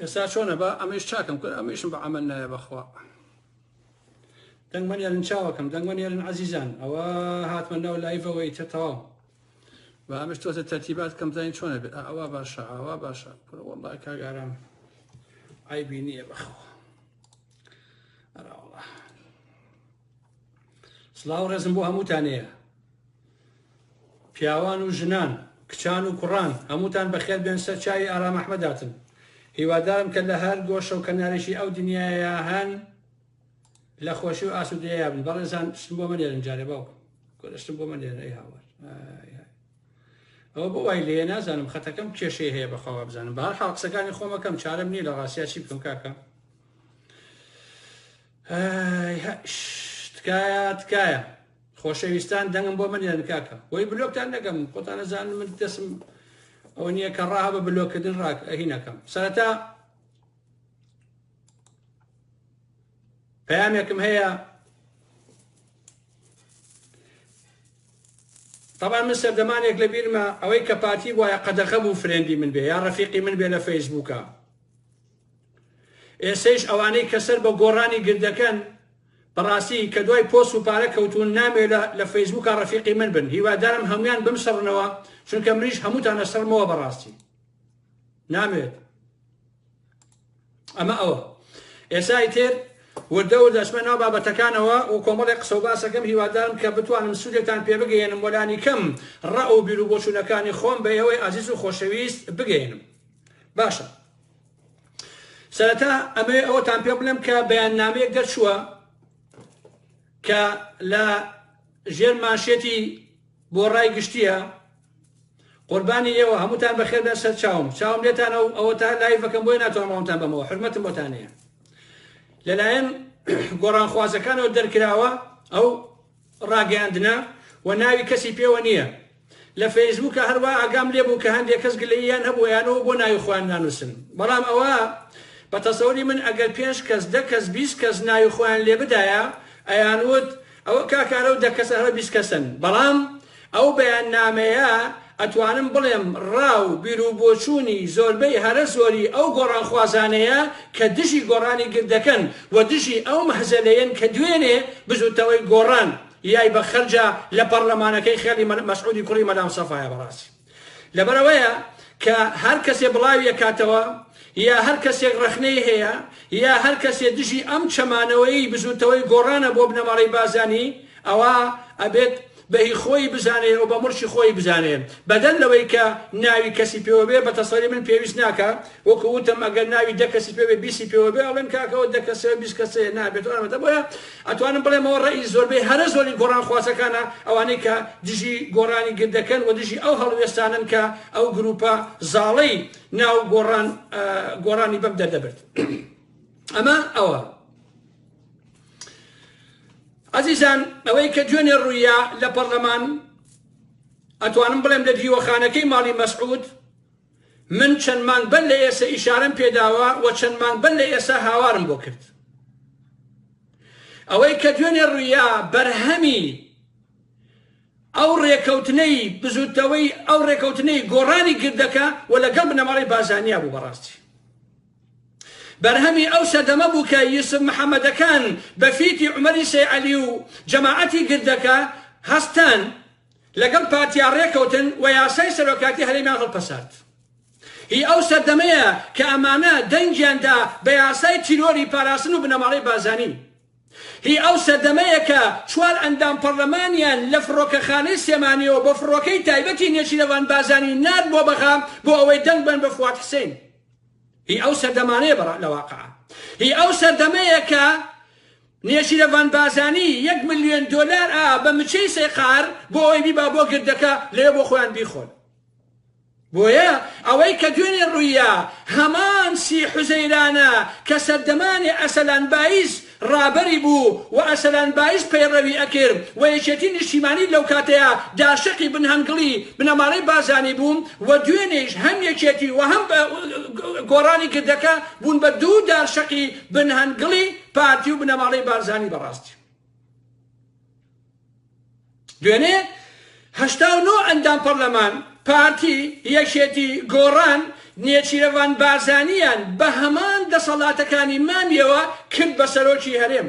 ئێستا چۆنە بە ئەمەش چاکەم کرد ئەمەشم بە ئەمە نایە بەخوا دەنگمە نێرن چاوەکەم دەنگمە نێرن عزیزان ئەوە هاتمە ناو لایڤەوەی تر تەواو بە ئەمەش تۆتە تەرتیبات کەم زانین چۆنە بێت ئەوە باشە ئەوە باشە وڵا کاگاران ئایبی نییە بەخوا ئەراوڵە سڵاو ڕێزم بۆ هەمووتانەیە پیاوان و ژنان کچان و کوڕان هەمووتان بەخێر بێن سەر چاوی ئارام ئەحمەداتن هیوادارم کە لە هەر گۆشە و کەنارێکی ئەو دنیاە هەن لە خۆشی و ئاسوودەیە بن بەڕێزان شتم بۆ منێرن جارێ باوکم گۆشتم بۆ منێرن ئەی هاوار ئەوە بۆ وای لێ نازانم خەتەکەم کێشەی هەیە بەخوا بزانم بار حاڵقسەکانی خۆمەکەم چارم نییە لە ڕاستیا چی بکەم کاکە ئهئهئهئش تکایە تکایە خۆشەویستان دەنگم بۆ بنێرن کاکە وەی بلۆکتان نەکەم خۆتان ئەزانن من دەسم ئەوە نییە کە ڕاها بە بلۆکردن ڕاک ئەهینەکەم سەرەتا پەیامێکم هەیە طبعا من سەردەمانێک لە بیرمە ئەوەی کە پارتی وایە قەدەخە بوو فرێندی من بێ یا ڕفیقی من بێ لە فەیسبووکە ئێسەیش ئەوانەی کە سەر بە گۆڕانی گردەکەن بەڕاستی کە دوای پۆس و پارە کەوتون نامێ لە فەیسبوکە ڕەفیقی من بن هیوادارم هەموان بمسڕنەوە چونکە منیش هەمووتان ئەسڕمەوە بەڕاستی نامێت ئەمە ئەوە ئێسای تر وردە و دەچمە ناو بابەتەکانەوە و کۆمەڵی قسە و باسەکەم هیوادارم کە بتوانم سوودێکتان پێ بگەێنم وەلانی کەم ڕە و بیر و بۆچوونەکانی خۆم بە ئێوەی ئازیز و خۆشەویست بگەێنم باشە سەرەتا ئەمەوێ ئەوەتان پێ بڵێم کە بەیاننامەیەک دەرچووە کە لە ژێر ماشێتی بۆ ڕای گشتیە قوربانی ئێوە هەمووتان بەخێر بە سەر چاوم چاوم لێتانە و ئەوە تا لای بەکەم بۆی ناتوانڕوانتان بەمەوە حرمەتم بۆتانەیە لەلایەن گۆڕانخوازەکانەوە دەرکراوە ئەو ڕاگەیاندنە و ناوی کەسی پێوە نییە لە فەیسبووکا هەر وا ئاگام لێ بوو کە هەندێ کەس گلەییان هەبوو ئەیانەوە بۆ ناوی خۆیان نانووسن بەڵام ئەوە بە تەسەوری من ئەگەر پێنج کەس دە کەس بیست کەس ناوی خۆیان لێ بدایە ئەیانووت ئەوە کاکە ئەرەو دە کەسە هەرە بیست کەسن بەڵام ئەو بەیاننامەیە ئەتوانم بڵێم ڕا و بیروبۆچوونی زۆربەی هەرە زۆری ئەو گۆڕانخوازانەیە کە دژی گۆڕانی گردەکەن و دژی ئەو مەهزەلەیەن کە دوێنێ بزوتنەوەی گۆڕان یای بە خەرجا لە پەڕلەمانەکەی خێڵی مەسعودی کوڕی مەلامستەفایا بەڕاستی لەبەرئەوەیە کە هەر کەسێ بڵاوی ئەکاتەوە یا هەر کەسێک ڕەخنەی هەیە یا هەر کەسێ دژی ئەم چەمانەوەی بزوتەوەی گۆڕانە بۆ بنەماڵەی بازانی ئەوا ئەبێت بەهی خۆی بزانێ و بە مڕشی خۆی بزانێ بەدەر لەوەی کە ناوی کەسی پێوەبێ بە تەسەری من پێویست ناکە وەکو وتم ئەگەر ناوی دە کەسی پێوێ بیسی پێوەبێ ئەڵێن کاکەەوە دە کەسەوە بیست کەسەیە نابێت ئەمەدە بۆە ئەتوانم بڵێمەوە ڕەئی زۆربەی هەرە زۆری گۆڕان خوازەکانە ئەوانەی کە دژی گۆڕانی گر دەکەن و دژی ئەو هەڵوێستانەن کە ئەو گروپە زاڵەی ناو گۆڕان گۆڕانی بەم دەردەبرد ئەمە ئەوە ئازیزان ئەوەی کە دوێنێ ڕوویە لە پەرلەمان ئەتوانم بڵێم لە دیوەخانەکەی ماڵی مەسعود من چەند مانگ بەر لە ئێسە ئیشارەم پێ داوە و چەند مانگ بەر لە ئێسە هاوارم بۆ کرد. ئەوەی کە دوێنێ ڕوویا بەرهەمی ئەو ڕێکەوتنەی بزوتنەوەی ئەو ڕێکەوتنەی گۆڕانی گردەکە و لەگەڵ بنەماڵی بازانیا بوو بەڕاستی بەرهەمی ئەو سەردەمە بوو کە یوسف محەممەدەکان بە فیتی عمەری سێعەلی و جەماعەتی گردەکە هەستان لەگەڵ پارتیا رێکەوتن و یاسای سەرۆکاتی هەرێمیان هەڵپەسارد. هی ئەو سەردەمەیە کە ئەمانە دەنگیان دا بە یاسای تیرۆری پاراستن و بنەماڵەی بارزانی. هی ئەو سەردەمەیە کە چوار ئەندام پەڕلەمانیان لە فڕۆکەخانەی سلێمانیەوە بە فڕۆکەی تایبەتی نێچیرەڤان بارزانی نارد بۆ بەغا بۆ ئەوەی دەنگ بەن بە فواد حسین. هی ئەو سەردەمانەیە لە واقعا. هی ئەو سەردەمەیە کە نێچیرەڤان بازانی یەک ملیۆن دۆلار ئا بە مچەی سیقار بۆ ئەوەی بیبا بۆ گردەکە لەوێ بۆ خۆیان بیخۆن بۆیە ئەوەی کە دوێنێ ڕوویە هەمان سی حوزەیرانە کە سەردەمانێ ئەسەلان بایز ڕابەری بوو و ئەسەلان بایز پەیڕەوی ئەکرد و یەکێتی نیشتیمانی لەو کاتەیا داشەقی بن هەنگڵی بنەماڵەی بازانی بوو و دوێنێیش هەم یەکێتی و هەم گۆڕانی گردەکە بوون بە دوو دارشەقی بن هەنگڵی پارتی و بنەماڵەی بارزانی بەڕاستی دوێنێ هەشتا و نۆ ئەندام پەرلەمان پارتی یەکێتی گۆڕان نێچیرەوان بارزانیان بە هەمان دەسەڵاتەکانی مامیەوە کرد بە سەرۆکی هەرێم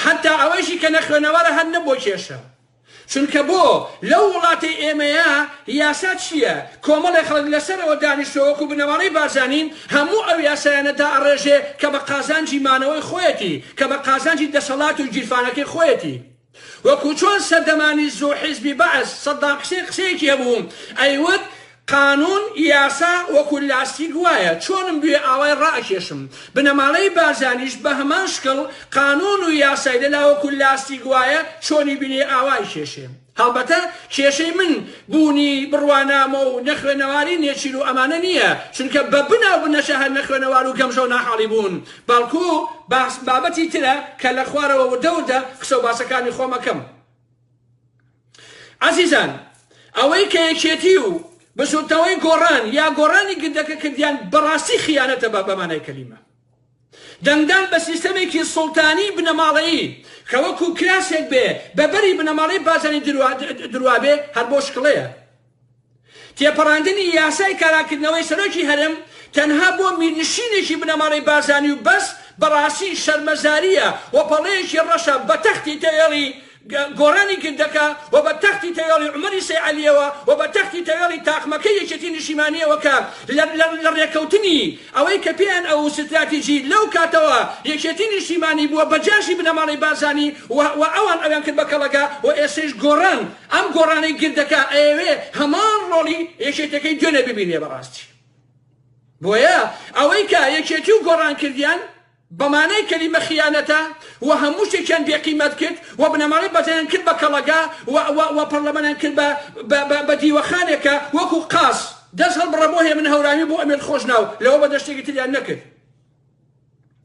حتا ئەوەیشی کە نەخوێنەوەرە هەر نەبووە کێشە چونکە بۆ لەو وڵاتەی ئێمەیە یاسا چییە؟ کۆمەڵێ خەڵک لەسەرەوە دانیشتووە وەکو بنەماڵەی بارزانین هەموو ئەو یاسایانە دائەڕێژێ کە بە قازانجی مانەوەی خۆیەتی، کە بە قازانجی دەسەڵات و گیرفانەکەی خۆیەتی. وەکو چۆن سەردەمانی زوو حیزبی بەعس سەدام حسێن قسەیەکی هەبوو ئەیوت، قانون، یاسا، وەکو لاستیک وایە، چۆنم بوێ ئاوای ڕائەکێشم. بنەماڵەی بارزانیش بە هەمان شکڵ، قانون و یاسای لەلا وەکو لاستیک وایە، چۆنی بینێ ئاوای کێشێ. هەڵبەتە کێشەی من بوونی بڕوانامە و نەخوێنەواری نێچیر و ئەمانە نییە، چونکە بە بنا و بنەچە هەر نەخوێنەوار و گەمژە و ناحاڵی بوون، بەڵکو بابەتی ترە کە لە خوارەوە وردە وردە قسە و باسەکانی خۆم ئەکەم. ئازیزان ئەوەی کە یەکێتی و بزوتنەوەی گۆڕان یا گۆڕانی گردەکە کردیان بەڕاستی خیانەتە بە بەمانای کەلیمە دەنگدان بە سیستەمێکی سوڵتانی بنەماڵەیی کە وەکو کراسێک بێ بە بەری بنەماڵەی بازانی دروا دروا بێ هەر بۆ شکڵەیە تێپەڕاندنی یاسای کاراکردنەوەی سەرۆکی هەرێم تەنها بۆ میرنشینێکی بنەماڵەی بارزانی و بەس بەڕاستی شەرمەزارییە و پەڵەیەکی ڕەشە بە تەختی تەوێڵی گۆڕانی گردەکە و بە تەختی تەوێڵی عومەری سەیعەلییەوە و بە تەختی تەوێڵی تاقمەکەی یەکێتی نیشیمانییەوە کە لە ڕێکەوتنی ئەوەی کە پێیان ئەوو ستراتیجی لەو کاتەوە یەکێتی نیشتیمانی بووە بە جاشی بنەماڵەی بارزانی و ئەوان ئەویان کرد بە کەڵەگا و ئێستەیش گۆڕان ئەم گۆڕانەی گردەکە ئەیەوێ هەمان ڕۆڵی یەکێتەکەی دوێنێ ببینێ بەڕاستی بۆیە ئەوەی کە یەکێتی و گۆڕان کردیان بەمانای کەلیمە خیانەتە و هەموو شتێکیان بێقیمەت کرد و بنەماڵەی بەزەیان کرد بە کەڵەگا و پەرلەمانیان کرد بە دیوەخانێکە وەکو قاس دەست هەڵبڕە بۆ هێمن هەورامی بۆ ئەمێت خۆشناو لەوە بەدەر شتێکی تریان نەکرد.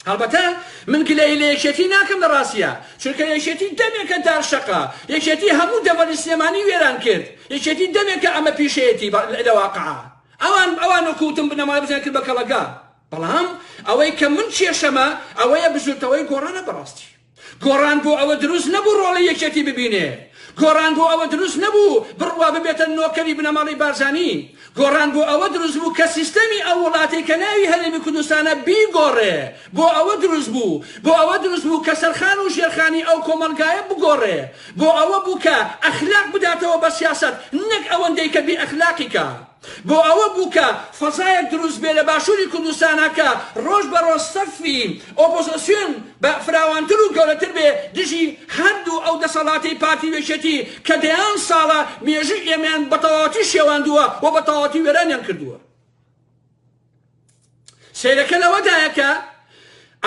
هەڵبەتە من گلەیی لە یەکێتی ناکەم لە ڕاستیا چونکە یەکێتی دەمێکە دار شەقا یەکێتی هەموو دەڤەری سلێمانی وێران کرد یەکێتی دەمێکە ئەمە پیشەیەتی لە واقعا ئەوان ئەوان وکوتم بنەمای بزیان کرد بە کەڵەگا بەڵام ئەوەی کە من کێشەمە ئەوەیە بزوتنەوەی گۆڕانە بەڕاستی گۆڕان بۆ ئەوە دروست نەبوو ڕۆڵی یەکێتی ببینێ، گۆڕان بۆ ئەوە دروست نەبوو بڕوا ببێتە نۆکەری بنەماڵەی بارزانی، گۆڕان بۆ ئەوە دروست بوو کە سیستەمی ئەو وڵاتەی کە ناوی هەرێمی کوردستانە بیگۆڕێ، بۆ ئەوە دروست بوو، بۆ ئەوە دروست بوو کە سەرخان و ژێرخانی ئەو کۆمەڵگایە بگۆڕێ، بۆ ئەوە بوو کە ئەخلاق بداتەوە بە سیاسەت نەک ئەوەندەی کە بێ ئەخلاقی کە. بۆ ئەوە بوو کە فەزایەک دروست بێ لە باشووری کوردستانا کە ڕۆژ بە ڕۆژ سەفی ئۆپۆزسیۆن بە فراوانتر و گەورەتر بێ دژی هەر دوو ئەو دەسەڵاتەی پارتی و یەکێتی کە دەیان ساڵە مێژووی ئێمەیان بە تەواوەتی شێواندووە و بە تەواوەتی وێرانیان کردووە. سەیرەکە لەوەدایە کە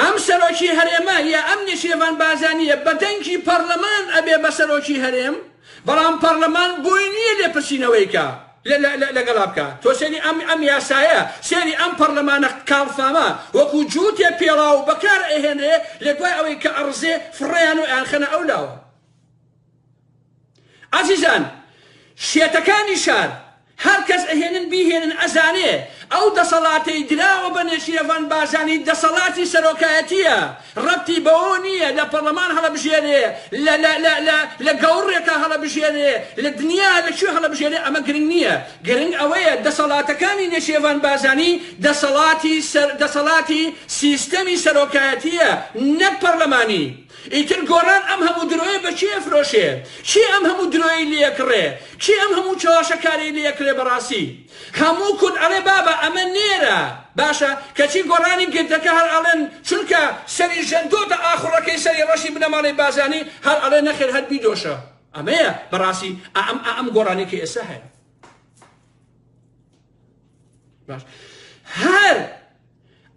ئەم سەرۆکی هەرێمە یا ئەم نێچیرەڤان بارزانیە بە دەنگی پەڕلەمان ئەبێ بە سەرۆکی هەرێم بەڵام پەڕلەمان بۆی نییە لێپرسینەوەی کا لەگەڵا بکە تۆ سێری ئەم ئەم یاسایە سێری ئەم پەرلەمانە کاڵفامە وەکو جووتێ پێڵاو بەکار ئەهێنرێ لە دوای ئەوەی کە ئەڕزێ فڕێیان و ئەیانخەنە ئەو لاوە ئەزیزان شێتەکانی شار هەر کەس ئەهێنن بیهێنن ئەزانێ ئەو دەسەڵاتەی دراوە بە نێچیرەڤان بارزانی دەسەڵاتی سەرۆکایەتیە ڕەبتی بەوەوە نیە لە پەڕلەمان هەڵەبژێرێ لە لە لە لە لە گەوڕێکا هەڵەبژێرێ لە دنیا لە کوێ هەڵەبژێرێ ئەمە گرنگ نیە گرنگ ئەوەیە دەسەڵاتەکانی نێچیرەڤان بارزانی دەسەڵاتی سەر دەسەڵاتی سیستەمی سەرۆکایەتیە نەک پەڕلەمانی ئیتر گۆڕان ئەم هەموو درۆیە بە کێ ئەفرۆشێ؟ کێ ئەم هەموو درۆیەی لێ ئەکڕێ؟ کێ ئەم هەموو چەواشەکاریەی لێ ئەکرێ بەڕاستی هەموو کورد ئەڵێ بابە ئەمە نێرە باشە کەچی گۆڕانی گردەکە هەر ئەڵێن چونکە سەری ژەندۆتە ئاخوڕەکەی سەری ڕەشی بنەماڵەی بازانی هەر ئەڵێ نەخێر هەر بیدۆشە ئەمەیە بەڕاستی ئەم ئەم گۆڕانی کە ئێستا هەیە باش هەر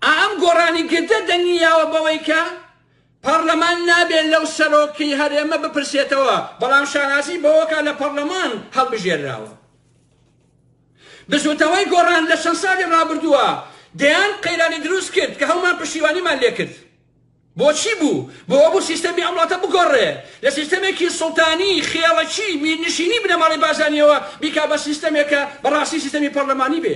ئەم گۆڕانی گردە دەنگی یاوە بەوەی کە پەڕلەمان نابێ لەو سەرۆکی هەرێمە بپرسێتەوە، بەڵام شانازی بەوەکا لە پەڕلەمان هەڵبژێرراوە. بزوتنەوەی گۆڕان لە چەند ساڵی ڕابردووە دەیان قەیرانی دروست کرد کە هەموومان پشتیوانیمان لێ کرد. بۆچی بوو؟ بۆ ئەوە بوو سیستەمی ئەم وڵاتە بگۆڕێ، لە سیستەمێکی سوڵتانی، خێڵەکی، میرنشینی بنەماڵەی بازانییەوە بیکا بە سیستەمێک کە بە ڕاستی سیستەمی پەڕلەمانی بێ.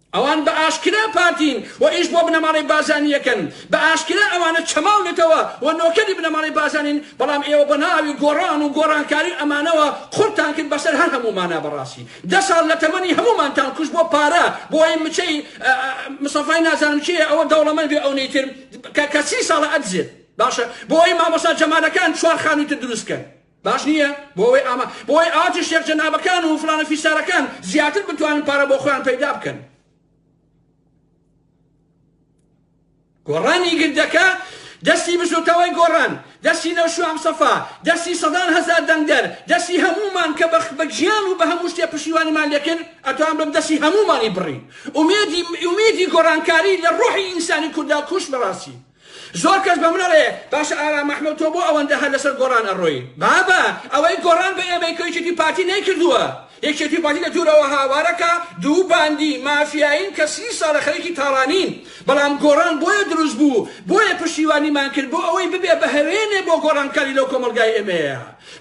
ئەوان بە ئاشکرا پارتین و ئیش بۆ بنەماڵەی بارزانی ئەکەن، بە ئاشکرا ئەوانە چەماو نەتەوە و نۆکەری بنەماڵەی بارزانین، بەڵام ئێوە بە ناوی گۆڕان و گۆڕانکاری ئەمانەوە قڕتان کرد بەسەر هەر هەموومانا بەڕاستی دە ساڵ لە تەمەنی هەموومانتان کوشت بۆ پارە بۆی مچەی مستەفای نازانم کێیە ئەوە دەوڵەمەند بێ ئەونەی تر کە کە سی ساڵە ئەدزێت باشە بۆی مامۆستا جەمالەکان چوار خانووی تر دروست کەن. باش نییە بۆ ئەوەی ئاما بۆ ئەوەی ئاواتێ شێخ جەنابەکان و فلانە فیسارەکان زیاتر بتوانن پارە بۆ خۆیان پەیدا بکەن گۆڕانی گردەکە دەستی بزوتەوەی گۆڕان دەستی نەو شوام سەفا دەستی سەدان هەزار دەنگدەر دەستی هەمومان کە بەخ بە گیان و بە هەموو شتێ پشیوانیمان لێکرد ئەتوان بم دەستی هەمومانی بڕی ئومێدی ئومێدی گۆڕانکاری لە ڕۆحی ئینسانی کوردا کوش بەڕاستی زۆر کەس بە من ئەڵێ باشە ئارام ئەحمەد تۆ بۆ ئەوەندە هەر لەسەر گۆڕان ئەڕۆی؟ بابە ئەوەی گۆڕان بە ئێمەی کەیکێتی پارتی نەیکردووە، یەکێتی و پارتی لە دوورەوە هاوارەکە، دوو باندی، مافیایین کە سی ساڵە خەریکی تاڵانین، بەڵام گۆڕان بۆیە دروست بوو، بۆیە پشتیوانیمان کرد بۆ ئەوەی ببێ بە هەوێنێ بۆ گۆڕانکاری لەو کۆمەڵگای ئێمەیە.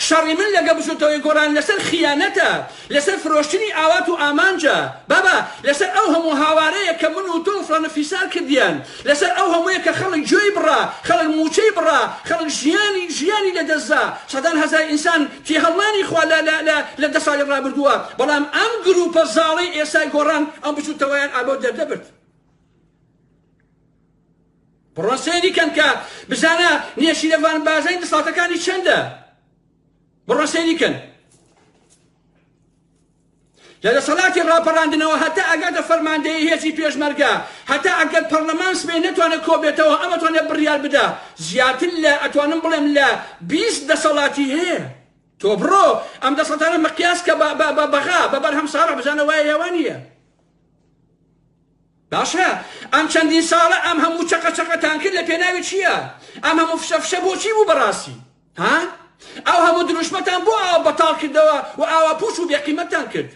شەڕی من لەگە بزوتەوەی گۆران لەسەر خیانەتە لەسەر فرۆشتنی ئاوات و ئامانجە بابە لەسەر ئەو هەموو هاوارەیە کە من و تۆ و فلانە فیسار کردیان لەسەر ئەو هەموویە کە خەڵک گوێی بڕا خەڵک موچەی بڕا خەڵک ژیانی ژیانی لە دەست زا سەدان هەزار ئینسان تێهەڵنانی خوا لە لە لە لە دە ساڵی ڕابردووە بەڵام ئەم گروپە زاڵەی ئێستای گۆڕان ئەم بزوتەوەیان ئابۆ دەردەبرد. پڕۆسەی دیکەن کە بزانە نێچیرەڤان بازنەی دەسەڵاتەکانی چەندە پڕۆسەی دیکەن لە دەسەڵاتی ڕاپەڕاندنەوە هەتا ئەگاتە فەرماندەیە هێزی پێشمەرگە هەتا ئەگەر پەرلەمان سبێ نەتوانێت کۆبێتەوە ئەمەتوانێت بڕیار بدا زیاتر لە ئەتوانم بڵێم لە بیست دەسەڵاتی هەیە تۆ بڕۆ ئەم دەسەڵاتانە مەقیاس کە بەغا بە بەرهەم ساڕە بزانە وایە یاوانە باشە ئەم چەندین ساڵە ئەم هەموو چەقە چەقەتان کرد لە پێناوی چییە؟ ئەم هەموو فشە فشە بۆ چی بوو بەڕاستی؟ ها؟ ئەو هەموو دروشمەتان بۆ ئاوا بەتاڵ کردەوە و ئاوا پووچ و بێقیمەتتان کرد؟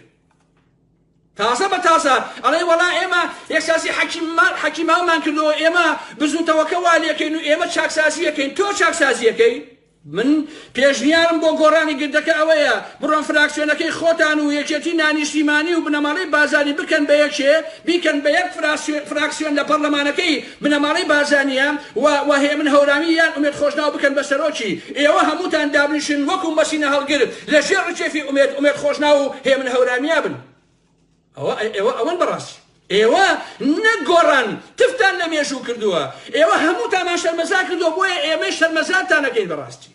تازە بە تازە ئەڵێ وەڵا ئێمە یەکسازی حەکیممان حەکیماومان کردەوە ئێمە بزووتەوەکە وا لێکەین و ئێمە چاکسازیەکەین تۆ چاکسازیەکەی من پێشنیارم بۆ گۆڕانی گردەکە ئەوەیە بڕۆن فراکسیۆنەکەی خۆتان و یەکێتی نانیشتیمانی و بنەماڵەی بازانی بکەن بە یەکێ بیکەن بە یەک فراکسیۆن لە پەڕلەمانەکەی بنەماڵەی بازانیە و و هێمن هەورامی یان ئومێد خۆشناو بکەن بە سەرۆکی ئێوە هەمووتان دابنیشن وەکو مەسینە هەڵگر لە ژێر ڕکێفی ئومێد ئومێد خۆشناو و هێمن هەورامیا بن. ئەوە ئێوە ئەوەن بەڕاستی ئێوە نەک گۆڕان تفتان لە مێژوو کردووە ئێوە هەمووتامان شەرمەزار کردووە بۆیە ئێمەی شەرمەزارتان نەکەین بەڕاستی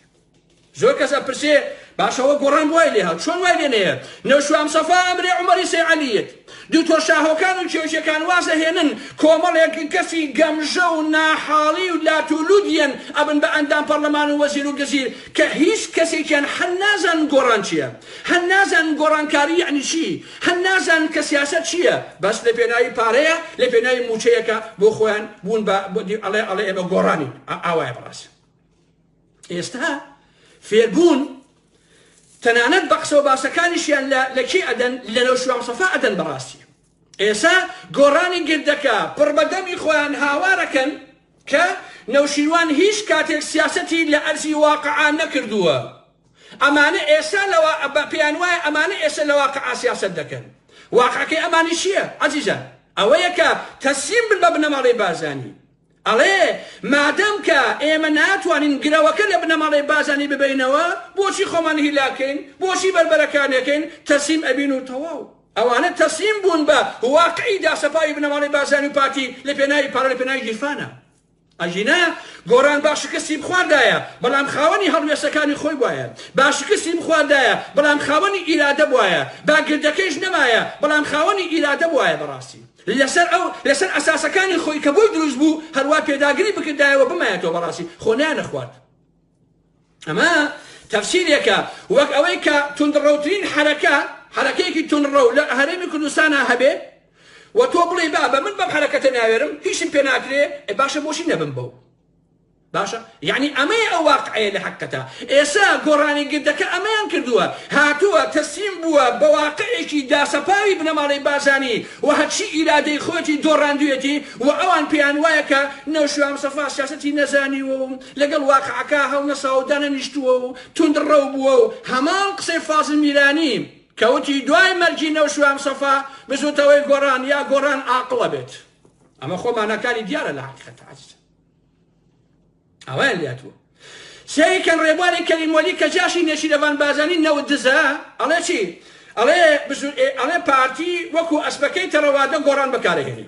زۆر کەس ئەپرسێ باشەوە گۆڕان وای لێ هات چۆن وای لێ نەیە نەوشام سەفا ئەمرێ عمەری سەیعەلیت دوکتۆر شاهۆکان و کێوچەکان وازە هێنن کۆمەڵێک کەسی گەمژە و ناحاڵی و لاتولودیەن ئەبن بە ئەندام پەرلەمان و وەزیر و گزیر کە هیچ کەسێکیان حەل نازان گۆڕان چییە هەن نازانن گۆڕانکاری یەعنی چی، هەن نازانن کە سیاسەت چییە، بەس لە پێناوی پارەیە، لە پێناوی مووچەیەکە بۆ خۆیان بوون بە ئەڵێ ئەڵێ ئێمە گۆڕانین، ئاوایە بەڕاستی. ئێستا فێربوون تەنانەت بە قسە و باسەکانیشیان لە لە کێ ئەدەن لە لەو شوام سەفا ئەدەن بەڕاستی. ئێسا گۆڕانی گردەکە پڕ بە دەمی خۆیان هاوارەکەن کە نەوشیروان هیچ کاتێک سیاسەتی لە ئەرزی واقعا نەکردووە، ئەمانە ئێستا لە وا پێیان وایە ئەمانە ئێستا لە واقعا سیاسەت دەکەن. واقعەکەی ئەمانە چییە عەزیزان؟ ئەوەیە کە تەسلیم بن بە بنەماڵەی بارزانی. ئەڵێ مادەم کە ئێمە ناتوانین گرەوەکە لە بنەماڵەی بارزانی ببەینەوە، بۆچی خۆمان هیلاک کەین؟ بۆچی بەربەرەکان ئەکەین؟ تەسلیم ئەبین و تەواو. ئەوانە تەسلیم بوون بە واقعی داسەپاوی بنەماڵەی بارزانی و پارتی لە پێناوی پارە، لە پێناوی گیرفانە. ئەگینا گۆران با شکستی بخواردایە بەڵام خاوەنی هەڵوێستەکانی خۆی بوایە، با شکستی بخواردایە بەڵام خاوەنی ئیرادە بوایە، با گردەکەیش نەمایە بەڵام خاوەنی ئیرادە بوایە بەڕاستی لەسەر ئەو لەسەر ئەساسەکانی خۆی کە بۆی دروست بوو هەروا پێداگری بکردایەوە بمایەتەوە بەڕاستی خۆ نەیانەخوارد. ئەمە تەفسیرێکە وەک ئەوەی کە توندڕەوترین حەرەکە حەرەکەیەکی توندڕەو لە هەرێمی کوردستانە هەبێ و تۆ بڵێ با بە من بەم حەرەکەتە ناوێرم هیچم پێ ناکرێ باشە بۆچی نەبم بەو باشە یعنی ئەمەی ئەو واقعەیە لە حەقەتە ئێسا گۆڕانی گردەکە ئەمەیان کردووە هاتووە تەسلیم بووە بە واقعێکی داسەپاوی بنەماڵەی بازانی و هەرچی ئیرادەی خۆتی دۆڕاندوێتی و ئەوان پێیان وایە کە نەوشوام سەفا سیاسەتی نەزانی و لەگەڵ واقعەکە هەڵنەساوەو دانەنیشتووەو توندڕەو بووەو هەمان قسەی فازل میرانی کە وتی دوای مەرگی نەوشیروان سەفا بزوتەوەی گۆڕان یا گۆڕان ئاقڵ ئەبێت ئەمە خۆ ماناکانی دیارە لە حەقیقەت عەزیزە ئاوایان لاتوە سێری کەن ڕێبواری کەلیمۆلی کە جاشی نێچیرەڤان بازانی نەوت دزە ئەڵێ چی ئەڵێ ئەڵێ پارتی وەکو ئەسپەکەی تەڕەوادە گۆڕان بەکارەهێنێ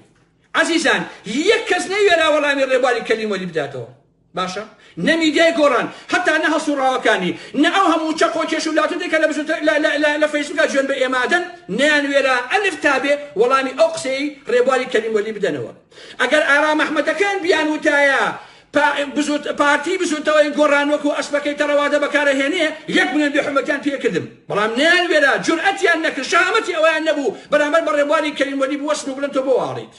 عەزیزان یەک کەس نەیوێرا وەڵامی ڕێبواری کەریم وەلی بداتەوە باشە نە میدیای گۆڕان هەتا نە هەڵسوڕاوەکانی نە ئەو هەموو چەقۆ و کێش و لاتوتێ کە لە بزوتە لە لە لە لە فەیسبوکا جوێن بە ئێمە ئەدەن نەیانوێرا ئەلف تا بێ وەڵامی ئەو قسەی ڕێبواری کەریم وەلی بدەنەوە ئەگەر ئارام ئەحمەدەکان بیانوتایە پارتی بزوتنەوەی گۆڕان وەکو ئەسپەکەی تەڕەوادە بەکارەهێنێ یەک ملیۆن بێ حورمەتیان پێ کردم بەڵام نەیانوێرا جورئەتیان نەکرد شەهامەتی ئەوەیان نەبوو بەرامبەر بە ڕێبواری کەریم وەلی بوەستن و بڵێن تۆ بۆ واڵیت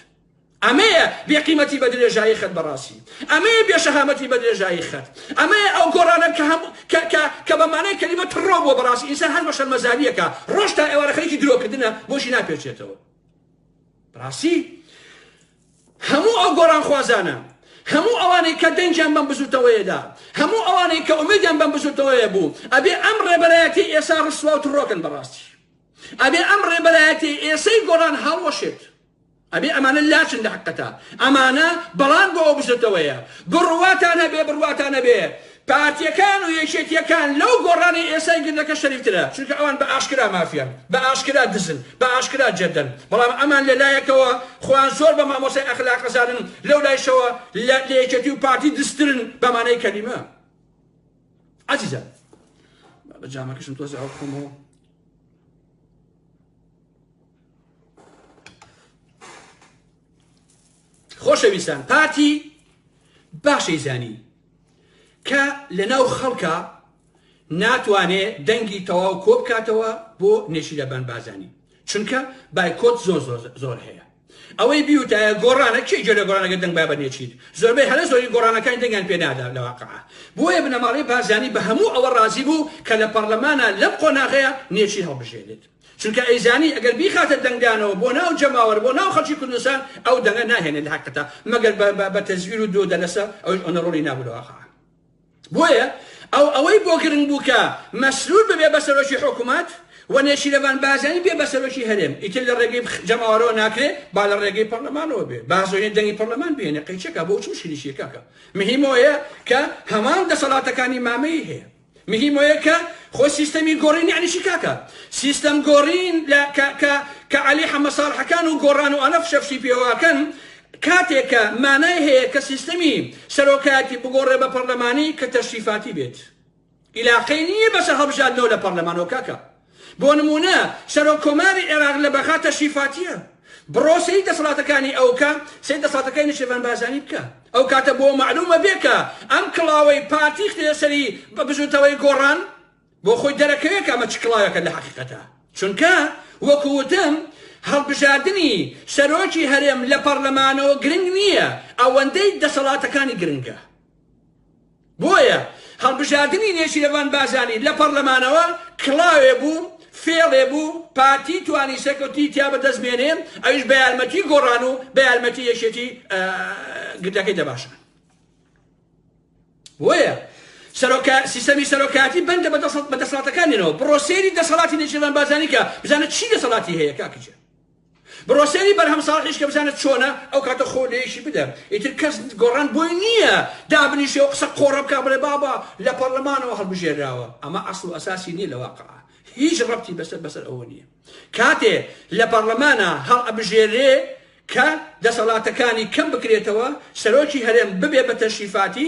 ئەمەیە بێ قیمەتی بە درێژایی خەت بەڕاستی ئەمەیە بێ شەهامەتی بە درێژایی خەت ئەمەیە ئەو گۆڕانە کە هەم کە بە مانای کەلیمە تڕۆ بۆ بەڕاستی ئینسان هەر بە شەرمەزاریەکە ڕۆژ تا ئێوارە خەریکی درۆکردنە بۆشی ناپێچێتەوە بەڕاستی هەموو ئەو گۆڕانخوازانە، هەموو ئەوانەی کە دەنگیان بەم بزوتەوەیە دا، هەموو ئەوانەی کە ئومێدیان بەم بزوتەوەیە بوو، ئەبێ ئەم ڕێبەرایەتیەی ئێسا ڕسوا و تڕۆکن بەڕاستی. ئەبێ ئەم ڕێبەرایەتیەی ئێسەی گۆڕان هەڵوەشێت. ئەبێ ئەمانە لاچن لە حەقتە. ئەمانە بەڵان بۆ ئەو بزوتەوەیە. بڕواتان هەبێ بڕواتان نەبێ، پارتیەکان و یەکێتیەکان لەو گۆڕانەی ئێستای گردەکە شەریفترە چونکە ئەوان بە ئاشکرا مافیان بە ئاشکرا دزن بە ئاشکرا جەردەن بەڵام ئەمان لە لایەکەوە خۆیان زۆر بە مامۆستای ئەخلاق ئەزانن لەو لایشەوە لە یەکێتی و پارتی دزترن بە مانای کەلیمە عزیزە بە جامەکەشم تۆزی ئەو خۆمەوە خۆشەویستان پارتی باشەی زانی کە لەناو خەڵکا ناتوانێ دەنگی تەواو کۆبکاتەوە بۆ نێچیرەبان بازانی چونکە بایکۆت زۆر زۆر هەیە ئەوەی بیوتایە گۆڕانە کێ جێ لە گۆرانەکە دەنگ بابە نێچیر زۆربەی هەرە زۆری گۆڕانەکانی دەنگیان پێنادا لە واقع بۆیە بنەماڵەی بازانی بە هەموو ئەوە ڕازی بوو کە لە پەرلەمانە لەم قۆناغەیە نێچیر هەڵبژێنێت چونکە ئەیزانی ئەگەر بیخاتە دەنگدانەوە بۆ ناو جەماوەر بۆ ناو خەڵکی کوردستان ئەو دەنگە ناهێنێت لە هەقتە مەگەر بە تەزویر و دۆ دەلەسە ئەوش ئەنە ڕۆڵی نابوو لەواقع بۆیە ئەو ئەوەی بۆ گرنگ بوو کە مەسرور ببێ بە سەرۆکی حکوومەت و نێچیرەڤان بازانی بێ بە سەرۆکی هەرێم ئیتر لە ڕێگەی جەماوەرەوە ناکرێ با لە ڕێگەی پەرلەمانەوە بێ بازۆیە دەنگی پەرلەمان بێنێ قەیچەکە بۆ چ مشکلیشیەکەکە مهمەوەیە کە هەمان دەسەڵاتەکانی مامەی هەیە مهیم ئۆیە کە خۆ سیستەمی گۆڕین یەعنی چی کاکە سیستەم گۆڕین لە کە کە کە عەلی حەمە ساڵحەکان و گۆڕان و ئانە فشە فشی پێوە ئەکەن کاتێ کە مانای هەیە کە سیستەمی سەرۆکایەتی بگۆڕێ بە پەڕلەمانی کە تەشریفاتی بێت ئیلاقەی نییە بەسە هەڵبژاردنەوە لە پەڕلەمانەوە کاکە بۆ نموونە سەرۆک کۆماری عێراق لە بەغا تەشریفاتیە، بڕۆ سەیری دەسەڵاتەکانی ئەو کە، سەیری دەسەڵاتەکای نەچیرڤان بارزانی بکە، ئەو کاتە بۆ مەعلوومە بێ کە ئەم کڵاوەی پارتی ختیە سەری بزووتەوەی گۆڕان، بۆ خۆی دەرەکەوێ کە ئەمە چ کڵاوێکە لە حەقیقەتا، چونکە وەکو وتم هەڵبژاردنی سەرۆکی هەرێم لە پەڕلەمانەوە گرنگ نیە، ئەوەندەی دەسەڵاتەکانی گرنگە. بۆیە هەڵبژاردنی نێچیرەڤان بارزانی لە پەڕلەمانەوە کڵاوێ بوو، فێڵێ بوو، پارتی توانی سەرکەوتنی تیا بەدەست بێنێ، ئەویش بە یارمەتی گۆڕان و بە یارمەتی یەکێتی گردەکەی دەباشان. بۆیە سەرۆکە سیستەمی سەرۆکایەتی بەندە بە دەسەڵاتەکانیەوە بڕۆ سێری دەسەڵاتی نێچیرەڤان بارزانی کە بزانە چی دەسەڵاتی هەیە کاکە جان. بڕۆ سەیری بەرهەم ساڵحیش کە بزانە چۆنە ئەو کاتە خۆ لێیشی بدە ئیتر کەس گۆڕان بۆی نییە دابنیشێ و قسە قۆڕە بکا بڵێ بابە لە پەڕلەمانەوە هەڵبژێراوە ئەمە ئەسڵ و ئەساسی نییە لە واقع هیچ ڕەبتی بەسەر بەسەر ئەوە نییە کاتێ لە پەڕلەمانە هەڵ ئەبژێرێ کە دەسەڵاتەکانی کەم بکرێتەوە سەرۆکی هەرێم ببێ بە تەشریفاتی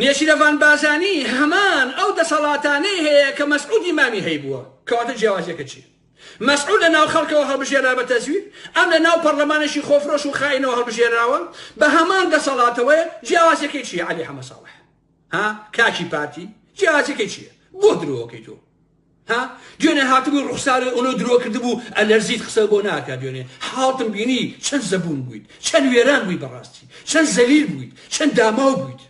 نێچیرەڤان بارزانی هەمان ئەو دەسەڵاتانەی هەیە کە مەسعود ئیمامی هەیبووە، کەواتە جیاوازیەکە چیە؟ مەسعود لە ناو خەڵکەوە هەڵبژێرا بە تەزویر، ئەم لە ناو پەڕلەمانێکی خۆفرۆش و خائینەوە هەڵبژێراوە بە هەمان دەسەڵاتەوەیە، جیاوازیەکەی چیە عەلی حەمە ساڵح؟ ها کاکی پارتی؟ جیاوازیەکەی چیە؟ بۆ درۆ ئەکەی تۆ؟ ها دوێنێ هاتبووی ڕوخساری ئۆنۆ درۆ کردبوو ئەلەرزیت قسە بۆ ناکە دوێنێ حاڵتم بینی چەند زەبوون بوویت چەند وێران بووی بەڕاستی چەند زەلیل بوویت چەند داماو بوویت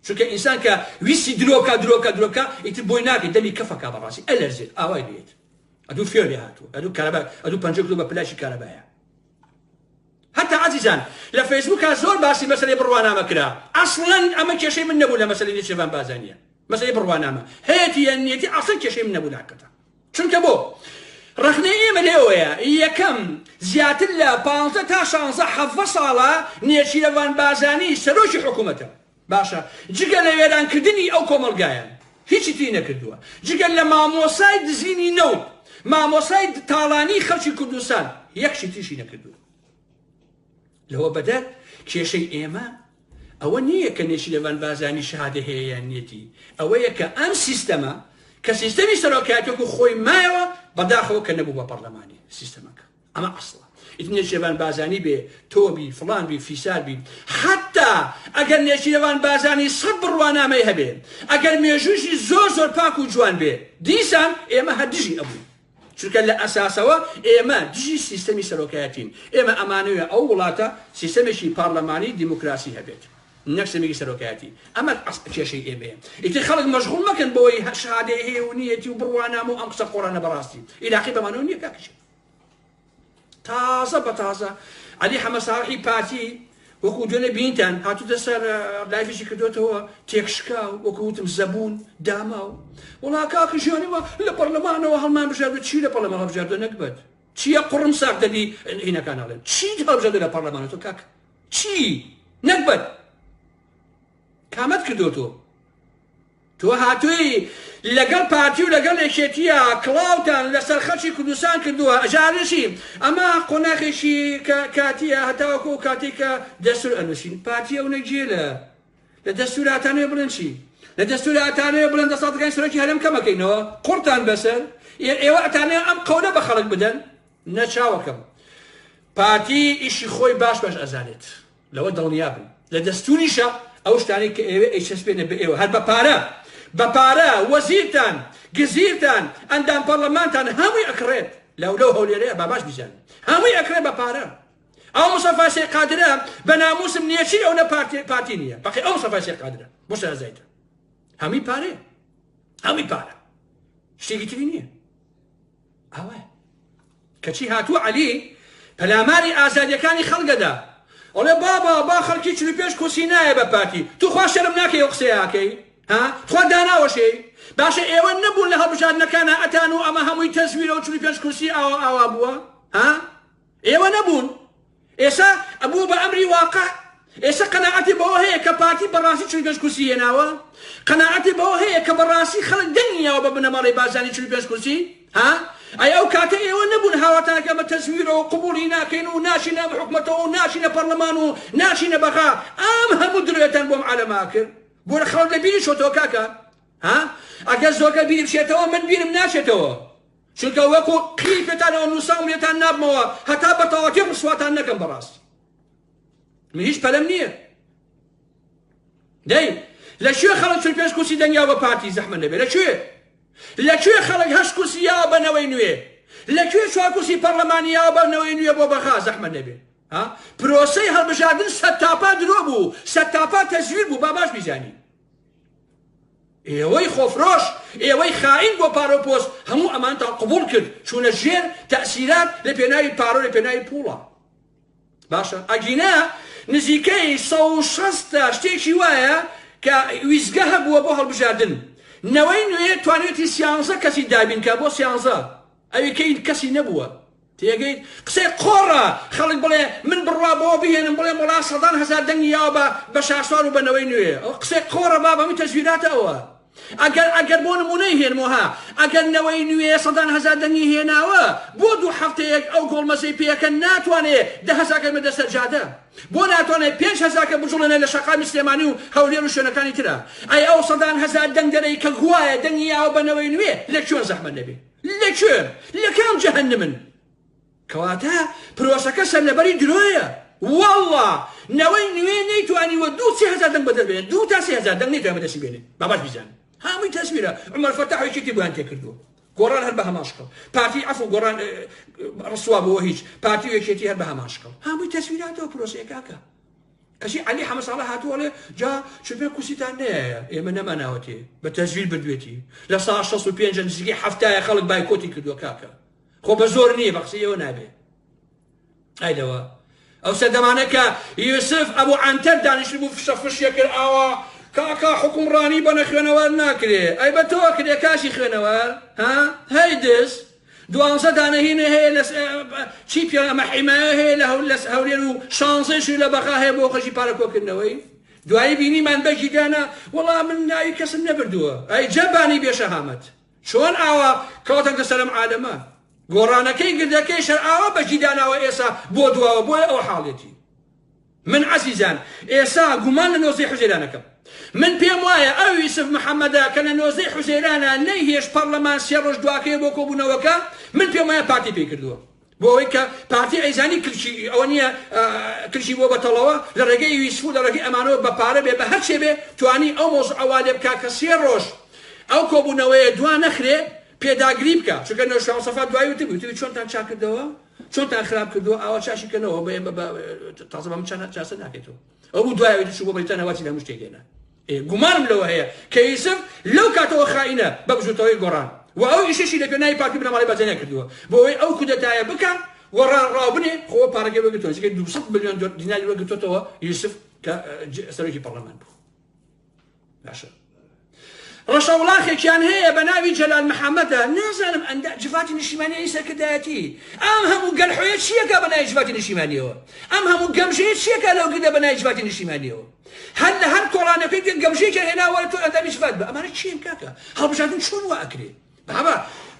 چونکە ئینسان کە ویستی درۆکە درۆکە درۆکە ئیتر بۆی ناکەیت دەمی کەفەکە بەڕاستی ئەلەرزێت ئاوای بێت ئەدوو فێڵێ هاتوو ئەدوو کارەبا ئەدوو پەنجە کلو بە پلاشی کارەبایە هەتا ئازیزان لە فەیسبوکا زۆر باسی مەسەلەی بڕوانامە کرا ئەسڵەن ئەمە کێشەی من نەبوو لە مەسەلەی نێچیرڤان بازانیە مەسەلەی بڕوانامە هەیەتی یان نیەتی ئەسڵەن کێشەی من نەبوو لە حەقەتا چونکە بۆ ڕەخنەی ئێمە لێوەیە یەکەم زیاتر لە پانزە تا شانزە حەڤە ساڵە نێچیرەڤان بازانی سەرۆکی حکوومەتە باشە جگە لە وێران کردنی ئەو کۆمەڵگایان هیچی تری نەکردووە جگە لە مامۆسای دزینی نەوت مامۆسای تاڵانی خەڵکی کوردستان یەکشی تریشی نەکردووە لەوە بەدەر کێشەی ئێمە ئەوە نییە کە نێچی لەوان بازانی شادە هەیەیان نیەتی ئەوەیە کە ئەم سیستەمە کە سیستەمی سەرۆکاتێک و خۆی مایەوە بەداخەوە کە نەبوو بە پەرلەمانی سیستەمەکە ئەمە ئەسڵە ئیتر نێچیرەڤان بازانی بێ تۆ بی فڵان بی فیسار بی حەتا ئەگەر نێچیرەڤان بازانی سەد بڕوانامەی هەبێ ئەگەر مێژوویشی زۆر زۆر پاک و جوان بێ دیسان ئێمە هەر دژی ئەبووین چونکە لە ئەساسەوە ئێمە دژی سیستەمی سەرۆکایەتین ئێمە ئەمانەوێ ئەو وڵاتە سیستەمێکی پارلەمانی دیموکراسی هەبێت نەک سەمێکی سەرۆکایەتی ئەمە ئەسڵ کێشەی ئێمەیە ئیتر خەڵک مەشغوڵ مەکەن بۆی هەر شادەیە هەیە و نیەتی و بڕوانامە و ئەم قسە قۆڕانە بەڕاستی ئیلاقی بەمانەوە نییە کاکەجان تازە بە تازە علی حەمە ساڵحی پارتی وەکو دوێنێ بینتان هاتوتە سەر لایفیشی کردوێتەوە تێکشکا و وەکوتم زەبوون داما و وڵا کاکە ژیانەوە لە پەرلەمانەوە هەڵمان بژاردو چی لە پەرلەمان هەڵبژاردە نەکبەت چیە قڕم ساخ دەبی عینەکان ئاڵێن چی هەڵبژاردە لە پەرلەمانە تۆ کاک چی نەکبەت کامەت کردو تۆ تۆ هاتووی لەگەڵ پارتی و لەگەڵ یەکێتیە کڵاوتان لەسەر خەڵکی کوردستان کردووە ئەژە ئەنووسی ئەمە قۆناخێکی کە کاتیە هەتاوەکو ئەو کاتەی کە دەستور ئەنووسین پارتی ئەونە گێ لە لە دەستور ئاتانەوێ بڵێن چی لە دەستور ئاتانەوێ بڵێن دەسەڵاتەکانی سەرۆکی هەرێم کەمەکەینەوە قوڕتان بەسەر ئێوە ئەتانەوێ ئەم قەولە بە خەڵک بدەن نەچاوەکەم پارتی ئیشی خۆی باش باش ئەزانێت لەوە دڵنیا بن لە دەستوریشە ئەو شتانەی کە ئێوە ئەیچەسپێنە بە ئێوە هەر بە پارە بە پارە وەزیرتان گزیرتان ئەندام پەرلەمانتان هەمووی ئەکڕێت لەو لەو هەولێرەیە باباش بزان هەمووی ئەکرێت بە پارە ئەو مسەفا شێ قادرە بە ناموسم نییە چی ئەو لە پارتی پارتی نییە بەقی ئەو مسەفا شێ قادرە بۆ شازایتە هەمی پارێ هەمی پارە شتێکی تری نییە ئەوە کەچی هاتوو عەلی پەلاماری ئازادیەکانی خەڵگەدا ئەڵێ بابا با خەڵکی چل پێش کورسی نایە بە پارتی توخوا شەرم ناکەی ئەو قسەیەکەی ها تخوا داناوەشێ باشە ئێوە نەبوون لە هەڵبژاردنەکانە ئەتان و ئەمە هەمووی تەزویرە و چل پێش کورسی ئاوا ئاوا بووە ها ئێوە نەبوون ئێستا ئەبوو بە ئەمری واقع ئێستا قەناعەتی بەوە هەیە کە پارتی بەڕاستی چل پێنج کورسی هێناوە قەناعەتی بەوە هەیە کە بەڕاستی خەڵک دەنگیاوە بە بنەماڵەی بازانی چل پێنج کورسی ها ئەی ئەو کاتە ئێوە نەبوون هاواتانەکە بە تەزویرەوە قبولی ناکەین و ناشینە بە حکومەتەوە و ناشینە پەرلەمان و ناشینە بەغا ئەم هەموو درێتان بۆم عالەما کرد بۆ لە خەڵک لە بیری شۆتەوە کاکە ها ئەگەر زۆرگە بیری بشێتەوە من بیرم ناشێتەوە چونکە وەکو قیری پێتانەوە نوسام لێتان نابمەوە هەتا بەتەواوەتی ڕسواتان نەکەم بەڕاستی من هیچ پەلەم نییە دەی لە کوێ خەڵک چل پێش کورسی دەنگیا بە پارتی زەحمە نەبێ لە کوێ لە کوێ خەڵک هەشت کورسی یا بەنەوەی نوێ لە کوێ چوار کورسی پەرلەمانی یا بەنەوەی نوێ بۆ بەغا زەحمە نەبێ پرۆسەی هەڵبژاردن سەتاپا درۆ بوو سەتاپا تەزویر بوو با باش بیزانین ئێوەی خۆفرۆش ئێوەی خائین بۆ پارە و پۆست هەموو ئەمانتان قبوڵ کرد چوونە ژێر تەسیرات لە پێناوی پارە و لە پێناوی پوڵە باشە ئەگینا نزیکەی 160 شتێکی وایە کە ویزگە هەبووە بۆ هەڵبژاردن نەوەی نوێ توانێتی سیانزە کەسی دابینکە بۆ سیانزە ئەوی کەین کەسی نەبووە تێگەیت قسەی قۆڕە خەڵک بڵێ من بڕوا بەوە بهێنم بڵێم وەڵا سەدان هەزار دەنگی یاوە بە بە شاسوار و بە نەوەی نوێ ئەوە قسەی قۆڕە باب هەمووی تەزویراتە ئەوە ئەگەر ئەگەر بۆ نمونەی هێنمەوە ها ئەگەر نەوەی نوێ سەدان هەزار دەنگی هێناوە بۆ دوو هەفتەیەک ئەو گۆڵمەزەی پێکەن ناتوانێ دە هەزاکە بێتە سەر جادە بۆ ناتوانێ پێنج هەزاکە بجوڵێنێ لە شەقامی سلێمانی و هەولێر و شوێنەکانی ترا ئەی ئەو سەدان هەزار دەنگدەرەی کە گوایە دەنگی یاوە بە نەوەی نوێ لە کوێن زەحمەت نەبێ لە کوێ؟ لە کام جەهەنمن؟ کەواتە پرۆسەکە سەرلەبەری درۆیە. وەڵڵا نەوەی نوێ نەیتوانیوە دوو سێ هەزار دەنگ بەدەست بێنێت دوو تا سێ هەزار دەنگ نەیتوانیوە بەدەستی بێنێت با باش بیزانن هەمووی تەسویرە عومەر فەتاح و یەکێتی بۆیان تێکردووە گۆڕان هەر بە هەمان شکڵ پارتی عەفو گۆڕان ڕسوا بۆ هیچ پارتی و یەکێتی هەر بە هەمان شکڵ هەمووی تەسویراتەوە پرۆسەیە کاکە ئەژی عەلی حەمە ساڵح هاتوو ئەڵێ جا چۆپێ کوسیتان نەیە ئێمە نەماناوەتێ بە تەزویر بردوێتی لە سا 65 نزیگەی هەفتایە خەڵک بایکۆتی کردووە کاکە خۆ بە زۆر نییە بە قسەی ئەوە نابێ ئای لەوە ئەو سەردەمانە کە یوسف ئەبوو عەنتەر دانیشت بوو فشە فشیە کرد ئاوا کاکا حکومڕانی بە نەخوێنەوار ناکرێ ئەی بە تۆ کرێ کاشی خوێنەوار ها هەی دز دوانزە دانە هینێ هەیە لە چی پێ ئەمە حیمایە هەیە لە هەول لە هەولێر و شانزەیشی لە بەغا هەیە بۆ خەرجی پارە کۆکردنەوەی دوایی بینیمان بەگی دانا وەڵا من ناوی کەسم نەبردووە ئەی جەبانی بێشەهامەت چۆن ئاوا کەوتە گەسەرم عالەمە گۆڕانەکەی گردەکەی شەر ئاوا بەگی داناوە ئێسا بۆ دواوە بۆیە ئەو حاڵێتی من عەزیزان ئێسا گومان لە نۆزدەی حوزەیران ئەکەم من پێم وایە ئەو یوسف محەمەدە کە لە نۆزدەی حوزەیرانە نەی هێشت پەڕلەمان سێ ڕۆژ دواکەوێ بۆ کۆبونەوەکە من پێم وایە پارتی پێی کردووە بۆ ئەوەی کە پارتی ئەیزانی کلکی ئەوە نییە کلکی بۆ بەتەڵەوە لە ڕێگەی یوسف و لە ڕێگەی ئەمانەوە بە پارە بێ بە هەرچێ بێ توانی ئەو مۆز ئەوا لێ بکا کە سێ ڕۆژ ئەو کۆبوونەوەیە دوا نەخرێ پێداگری بکە چونکە نەوشاوسەفا دوای وتبوو چۆنتان چاکردەوە چۆنتان خراپ کردووە ئاوا چاشی کەنەوە بە بە بە تازە بەم چانە چاسە ناکەێتەوە ئەو بوو دوایەوەی دچوو بۆ بەریتانە واتی لە هەموو شتێک هێنا ئێ گومانم لەوە هەیە کە یوسف لەو کاتەوە خائینە بە بزوتەوەی گۆڕان و ئەو ئیشەشی لە پێناوی پارتی بنەماڵەی بەجەنە کردووە بۆ ئەوەی ئەو کودەتایە بکا و ڕا ڕاوبنێ خۆ پارەکەی وەرگرتووە نزیکەی 200 ملیۆن دیناری وەرگرتووەتەوە یوسف کە اه، ج- سەرۆکی پەرلەمان بوو باشە ڕەشەوڵاخێکیان هەیە بە ناوی جەلال محەممەدە نازانم ئەندا جڤاتی نیشیمانیی سەرکردایەتی ئەم هەموو گەلحۆیە چیەکە بە نای جڤاتی نیشیمانیەوە ئەم هەموو گەمژەیە چیەکە لەو گردە بە نای جڤاتی نیشیمانیەوە هەر لە هەر کۆڵانەکەی تێک گەمژێکە هێناوە تۆ ئەندامی جڤات بە ئەمانە چیان کاکە هەڵبژاردن چۆن وا ئەکرێ بابا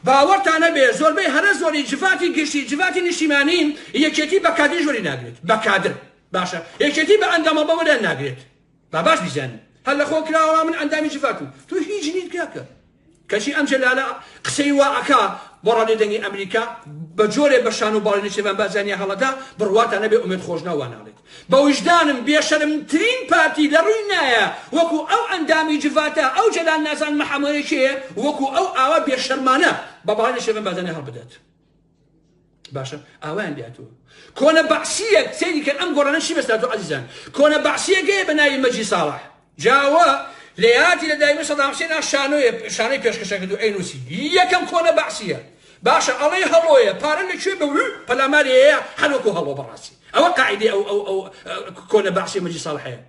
باوەڕتانە بێ زۆربەی هەرە زۆری جڤاتی گشتی جڤاتی نیشیمانین یەکێتی بە کادری ژۆری ناگرێت بە کادر باشە یەکێتی بە ئەندامە بەوەیان ناگرێت با باش بیزانی هەر لە خۆ کراوە من ئەندامی جڤاکم تو هیچ نیت کاکە کەچی ئەم جەلالە قسەی وا ئەکا بۆ ڕادێ دەنگی ئەمریکا بە جۆرێ بە شان و باڵی نەچێبان بازانیا هەڵەدا بڕواتە نەبێ ئومێد خۆشنا واناڵێت بە وژدانم بێشەرمترین پارتی لە ڕووی نایە وەکو ئەو ئەندامی جڤاتە ئەو جەلال نازان محەمەیەکێ وەکو ئەو ئاوا بێشەرمانە بە باڵی نەچێبان بازانیا هەڵبدات باشە ئاوایان لاتوە کۆنە بەعسیە سەیری کە ئەم گۆڕانەشی بەستاتۆ عزیزان کۆنە بەعسیەکەی بە ناوی مەجی ساڵح جاوە لە یاتی لە دایمە سەداحسێن شانۆیە شانەی پێشکەشە کردو ئەینوسی یەکەم کۆنە بەعسیە باشە ئەڵێ هەڵۆیە پارە لە کوێ بە پەلاماری هەیە هەروەکو هەڵۆ بەڕاستی ئەوە قاعدی ئەو ئەو ئەو کۆنە بەعسی مەجی ساڵحەیە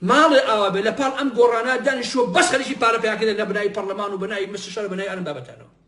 ماڵێ ئاوا بێ لە پاڵ ئەم گۆڕانە دانیشوە بەس خەریکی پارە پیاکردە لە بنای پەرلەمان و بنای مستشار بنای ئەرم بابەتانەوە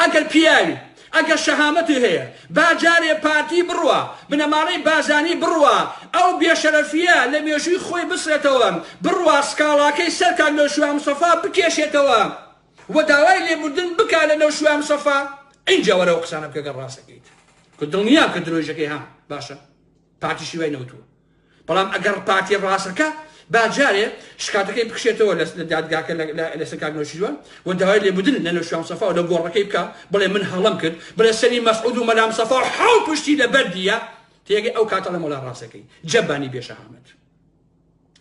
ئەگەر پیاوی ئەگەر شەهامەتی هەیە با جارێ پارتی بڕوا بنەماڵەی بارزانی بڕوا ئەو بێ شەرەفیە لە مێژووی خۆی بسڕێتەوە بڕوا سکاڵاکەی سەر کاک نەوشیروان مستەفا بکێشێتەوە و داوای لێبوردن بکا لە نەوشیروان مستەفا ئینجا وەرە ئەو قسانە بکە گەر ڕاست ئەکەیت کە دڵنیام کە درۆیژەکەی هەم باشە پارتیشی وای نەوتووە. بەڵام ئەگەڕ پارتی ڕاستەکە با جارێ شکاتەکەی بکشێتەوە لە لە دادگاکە لە لە لەسەر کاک نەوشیروان و داوای لێبوردن لە نەوشیروان مستەفا و لە گۆڕەکەی بکا بڵێ من هەڵەم کرد بڵێ سەری مەسعود و مەلا مستەفا و حەو پشتی لە بەردیە تێگەی ئەو کاتە لە مەلا ڕاستەکەی جەبانی بێشەهامەت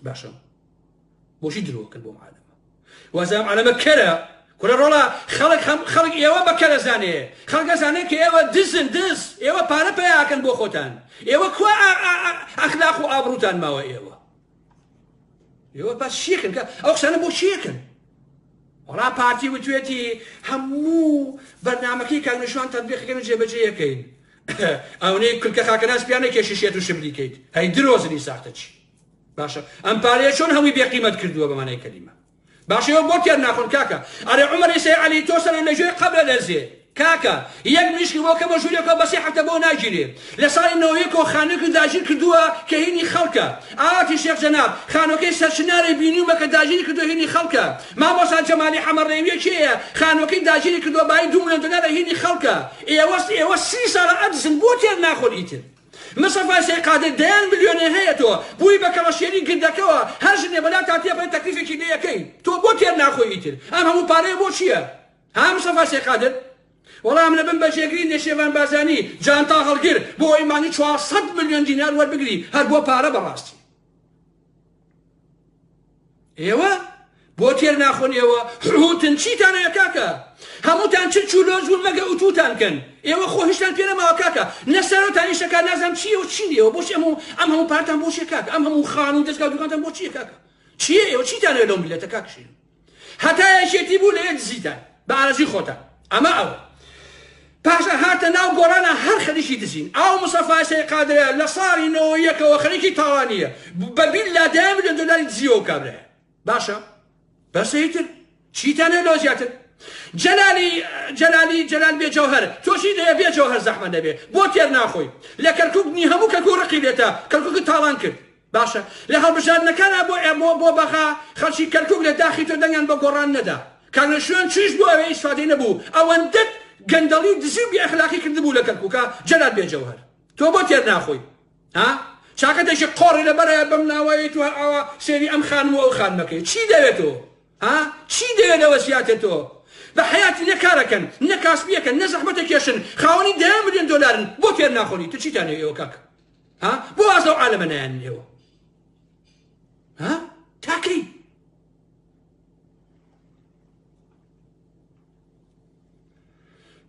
باشە بۆچی درۆ کرد بۆم عالەمە وازام عالەمە کەرە کورە ڕۆڵە خەڵک هەم خەڵک ئێوە بە کەرە زانێ خەڵکە زانێ کە ئێوە دزن دز ئێوە پارە پیاکەن بۆ خۆتان ئێوە کو ئەخلاق و ئابروتان ماوە ئێوە ئێوە بەس شیکن کە ئەو قسانە بۆ شیکن وڵا پارتی وتوێتی هەموو بەرنمەکەی کاگنشوان تەبیخەکەن و جێبەجێ یەکەین ئەونەی کلکە خاکەناس پیانە کێشیشێت و شبریکەیت هەی درۆزنی ساختەچی باشە ئەم پارەیە چۆن هەمووی بێ قیمەت کردووە بە مانای کەلیمە باشە ئێوە بۆ تێر ناخۆن کاکە ئەرێ عومەری سێ عەلی تۆ سەرێ لە ژێر قەبرە دەزێ کاکە یەک مریشکی بۆ کە بە ژوورێکەوە بەسێ هەفتە بۆ ناگیرێ لە ساڵی نەوەیە کۆ خانوێکی داگیر کردووە کە هینی خەڵکە ئاواتی شێخ جەناب خانوەکەی سەرچنارەی بینیومە کە داگیری کردو هینی خەڵکە مامۆسا جەمالی حەمە ڕێویە کێیە خانوەکەی داگیری کردووە بای دوو ملیۆن دۆلارە هینی خەڵکە ئێوەست ئێوە سی ساڵە ئەدزن بۆ تێر ناخۆن ئیتر مستەفای سەی قادر دەیان ملیۆنێ هەیە تۆ بوی بە کەڵەشێری گردەکەوە هەر ژنێ بەلا تا تێپەری تەکلیفێکی لێ ئەکەی تۆ بۆ تێر ناخۆی ئیتر ئەم هەموو پارەیە بۆ چیە ها مستەفای سەی قادر وەڵا ئەم لە بن بە جێگری نێچێرڤان بارزانی جانتا هەڵگر بۆ ئەوەی مانگی چوار سەد ملیۆن دینار وەربگری هەر بۆ پارە بەڕاستی. ئێوە بۆ تێر ناخۆن ئێوە حوتن چیتان هەیە کاکە هەمووتان چ چولۆز بوون مەگە ئوتوتان کەن ئێوە خۆ هیچتان پێ نەماوە کاکە نەسەرۆتان ئیشەکە نازانم چیە و چی ئێوە بۆچ ئەم ئەم هەموو پارتان بۆچیە کاکە ئەم هەموو خان و دەستگا دوکانتان بۆچیە کاکە چیە ئێوە چیتان هەیە لەو میلەتە کاکشین هەتا یەکێتی بوو لەوێ دزیتان بە ئارەزوی خۆتان ئەمە ئەوە پاشا هاتە ناو گۆڕانە هەر خەریکی دزین ئاو مسەفای سەی قادرە لە ساڵی نەوە یەکەوە خەریکی تاوانیە بە بیل لا دەیان ملیۆن دۆلاری دزیەوە کابرایە باشە بەسەیتر چیتانێ لۆ زیاتر جەلالی جەلالی جەلال بێ جەوهر تۆشی دەیە بێ جەوهر زەحمە دەبێ بۆ تێر ناخۆی لە کەرکک نی هەموو کەکو ڕقی لێتە کەرکک تاڵان کرد باشە لە هەڵبژاردنەکان ئە بۆ ئە بۆ بۆ بەغا خەڵکی کەرکوک لە داخی تۆ دەنگیان بە گۆڕان نەدا کاک نەوشیروان چیش بوو ئەوێ ئیسفادەی نەبوو ئەوەندەت گەندەڵی و دزی و بێ ئەخلاقی کردبوو لە کەرکوکا جەلال بێ جەوهەر تۆ بۆ تێر ناخۆی ها چاکە دەشی قۆڕی لە بەرایە بەم ناوەیە تو هەر ئاوا سێری ئەم خانم و ئەو خانمەکەی چی دەوێت تۆ ها چی دەوێت لەوە زیاتر تۆ بە حیاتی نە کارەکەن نە کاسبیەکەن نە زەحمەتە کێشن خاوەنی دەیان ملیۆن دۆلارن بۆ تێر ناخۆنی تو چیتانێ ئێوە کاک ها بۆ واز لەو عالەمە نایەنن ئێوە ها تاکەی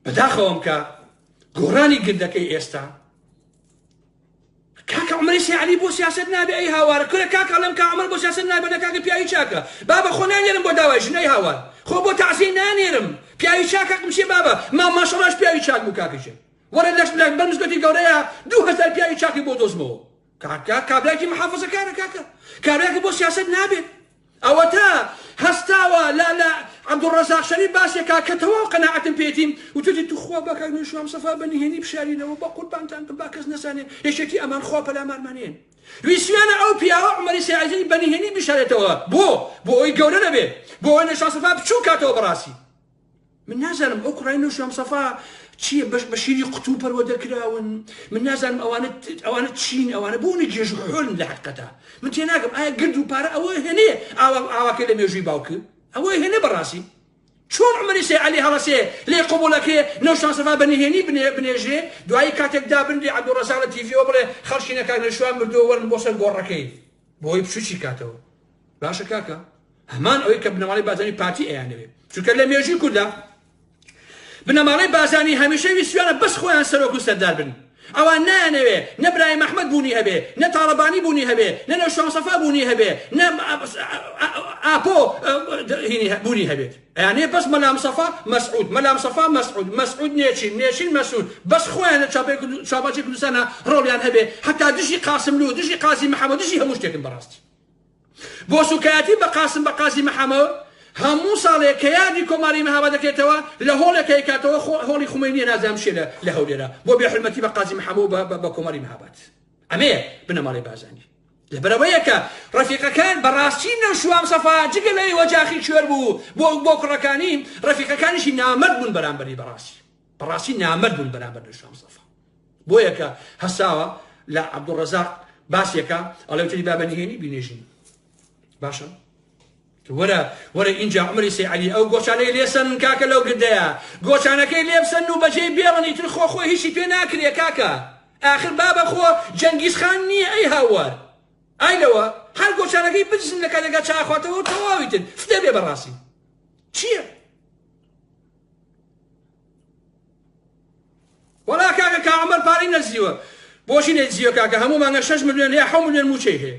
بەداخەوەم کە گۆڕانی گردەکەی ئێستا کاکە عمری سیعلی بۆ سیاست نابێ ئەی هاوارە کورە کاکە لەم کا عمر بۆ سیاست نابێ لە کاکە پیاوی چاکە بابە خۆ نانێرم بۆ داوای ژنەی هاوار خۆ بۆ تەعزیە نانێرم پیاوی چاکە قمشێ بابە ما ماشەڵاش پیاوی چاک بوو کاکەشێ وەرە لەش بلەن بەر مزگەوتی گەورەیا دوو هەزار پیاوی چاکی بۆ دۆزمەوە کاکە کابراکی محافظە کارە کاکە کابراکی بۆ سیاست نابێت ئەوەتا هەستاوە لا لا عبدالرزاق شەریف باسێکا کە تەواو قەناعەتم پێتیم وتوتی توخوا باکاک نوێشوام سەفا بە نهێنی بشارینەوە بە قوربانتان بم با کەس نەزانێ یەکێتی ئەمان خوا پەلامارمانێن ویسویانە ئەو پیاوە عمەری سیازی بە نهێنی بشارێتەوە بۆ بۆ ئەوی گەورە نەبێ بۆ ئەوەی نەشاسەفا بچوو کاتەوە بەڕاستی من نازانم ئەو کوڕای نوشیان مصەفا چییە بەش بە شیری قوتوو پەروەدە کراون من نازانم ئەوانە ئەوانە چین ئەوانە بۆ نە گێژ حۆلن لە حقەتا من تێ ناگەم ئایا گرد و پارە ئەوە هێنێ ئاوا ئاواکە لە مێژووی باوکە ئەوە هێنێ بەڕاستی چۆن عمری سێ علی هەڵەسێ لێ قوبولەکرێ نەوشان سەفا بە نهێنی بنێژێ دوایی کاتێک دابنرێ عەبدوڵڕەزاق لە تیڤیەوە بڵێ خەڵکی نەکاک نەشوان مردووە وەرن بۆ سەر گۆڕەکەی بۆی بچوکی بکاتەوە باشە کاکە هەمان ئەوەی کە بنەماڵی بازانی پارتی ئەیانەوێ چونکە لە مێژوی کودا بنەماڵی بازانی هەمیشە ویسیانە بەس خۆیان سەرۆک و سەردار بن ئەوان نایانەوێ نە برای مححمد بوونی هەبێ نە تاالبانی بوونی هەبێ نە نە شانسەفا بوونی هەبێ نە ئاپۆ هینی بوونی هەبێت ئەیانێ بەس مەلامسەفا مەسعود مەلامسەفا مەسعود مەسعود نێچیر نێچیر مەسعود بەس خۆیان لە چاوباچی کوردستانا ڕۆڵیان هەبێ حەتا دژی قاسملوو دژی قازی محەمەد دژی هەموو شتێکن بەڕاستی بۆ سوکایەتی بە قاسم بە قازی محەمەد هەموو ساڵێ کە یادی کۆماری مەهابا دەکرێتەوە لە هۆڵێکە کاتەوە هۆڵی خومەینیە نازام شێ لە هەولێرە بۆ بێ حرمەتی بە قازی محەمەد بە کۆماری مەهابات ئەمێ بنەماڵی بازانی لەبەرئەوەیە کە ڕەفیقەکان بەڕاستی نەوشوام سەفا جگە لەوەی ئۆجاخی کوێر بوو بۆ بۆ کوڕەکانی، ڕەفیقەکانیشی نامەرد بوون بەرامبەری بەڕاستی بەڕاستی نامەرد بوون بەرامبەر نەوشوام سەفا بۆیە کە هەساوە لە عەبدوڵڕەزاق باسێکە ئەڵێ وتری با بەنهێنی بینێژین باشە وەرە وەرە ئینجا عومری سەی عەلی ئەو گۆچانەی لێ سەنن کاکە لەو گردەیا گۆچانەکەی لێ بسەنن و بەجێی بێڵن ئیتر خۆ خۆی هیچی پێ ناکرێ کاکە ئاخر بابە خۆ جەنگیز خان نییە ئەی هاوار ئای لەوە هەر گۆچانەکەی بدزن لە کاتێکا چاخواتەوە و تەواوی تر فدە بێ بەڕاستی چییە وەڵا کاکە کاعمر پارەی نەزیوە بۆچی نەیزیوە کاکە هەموو مانگە شەش ملیۆن یا حە ملیۆن موچەی هەیە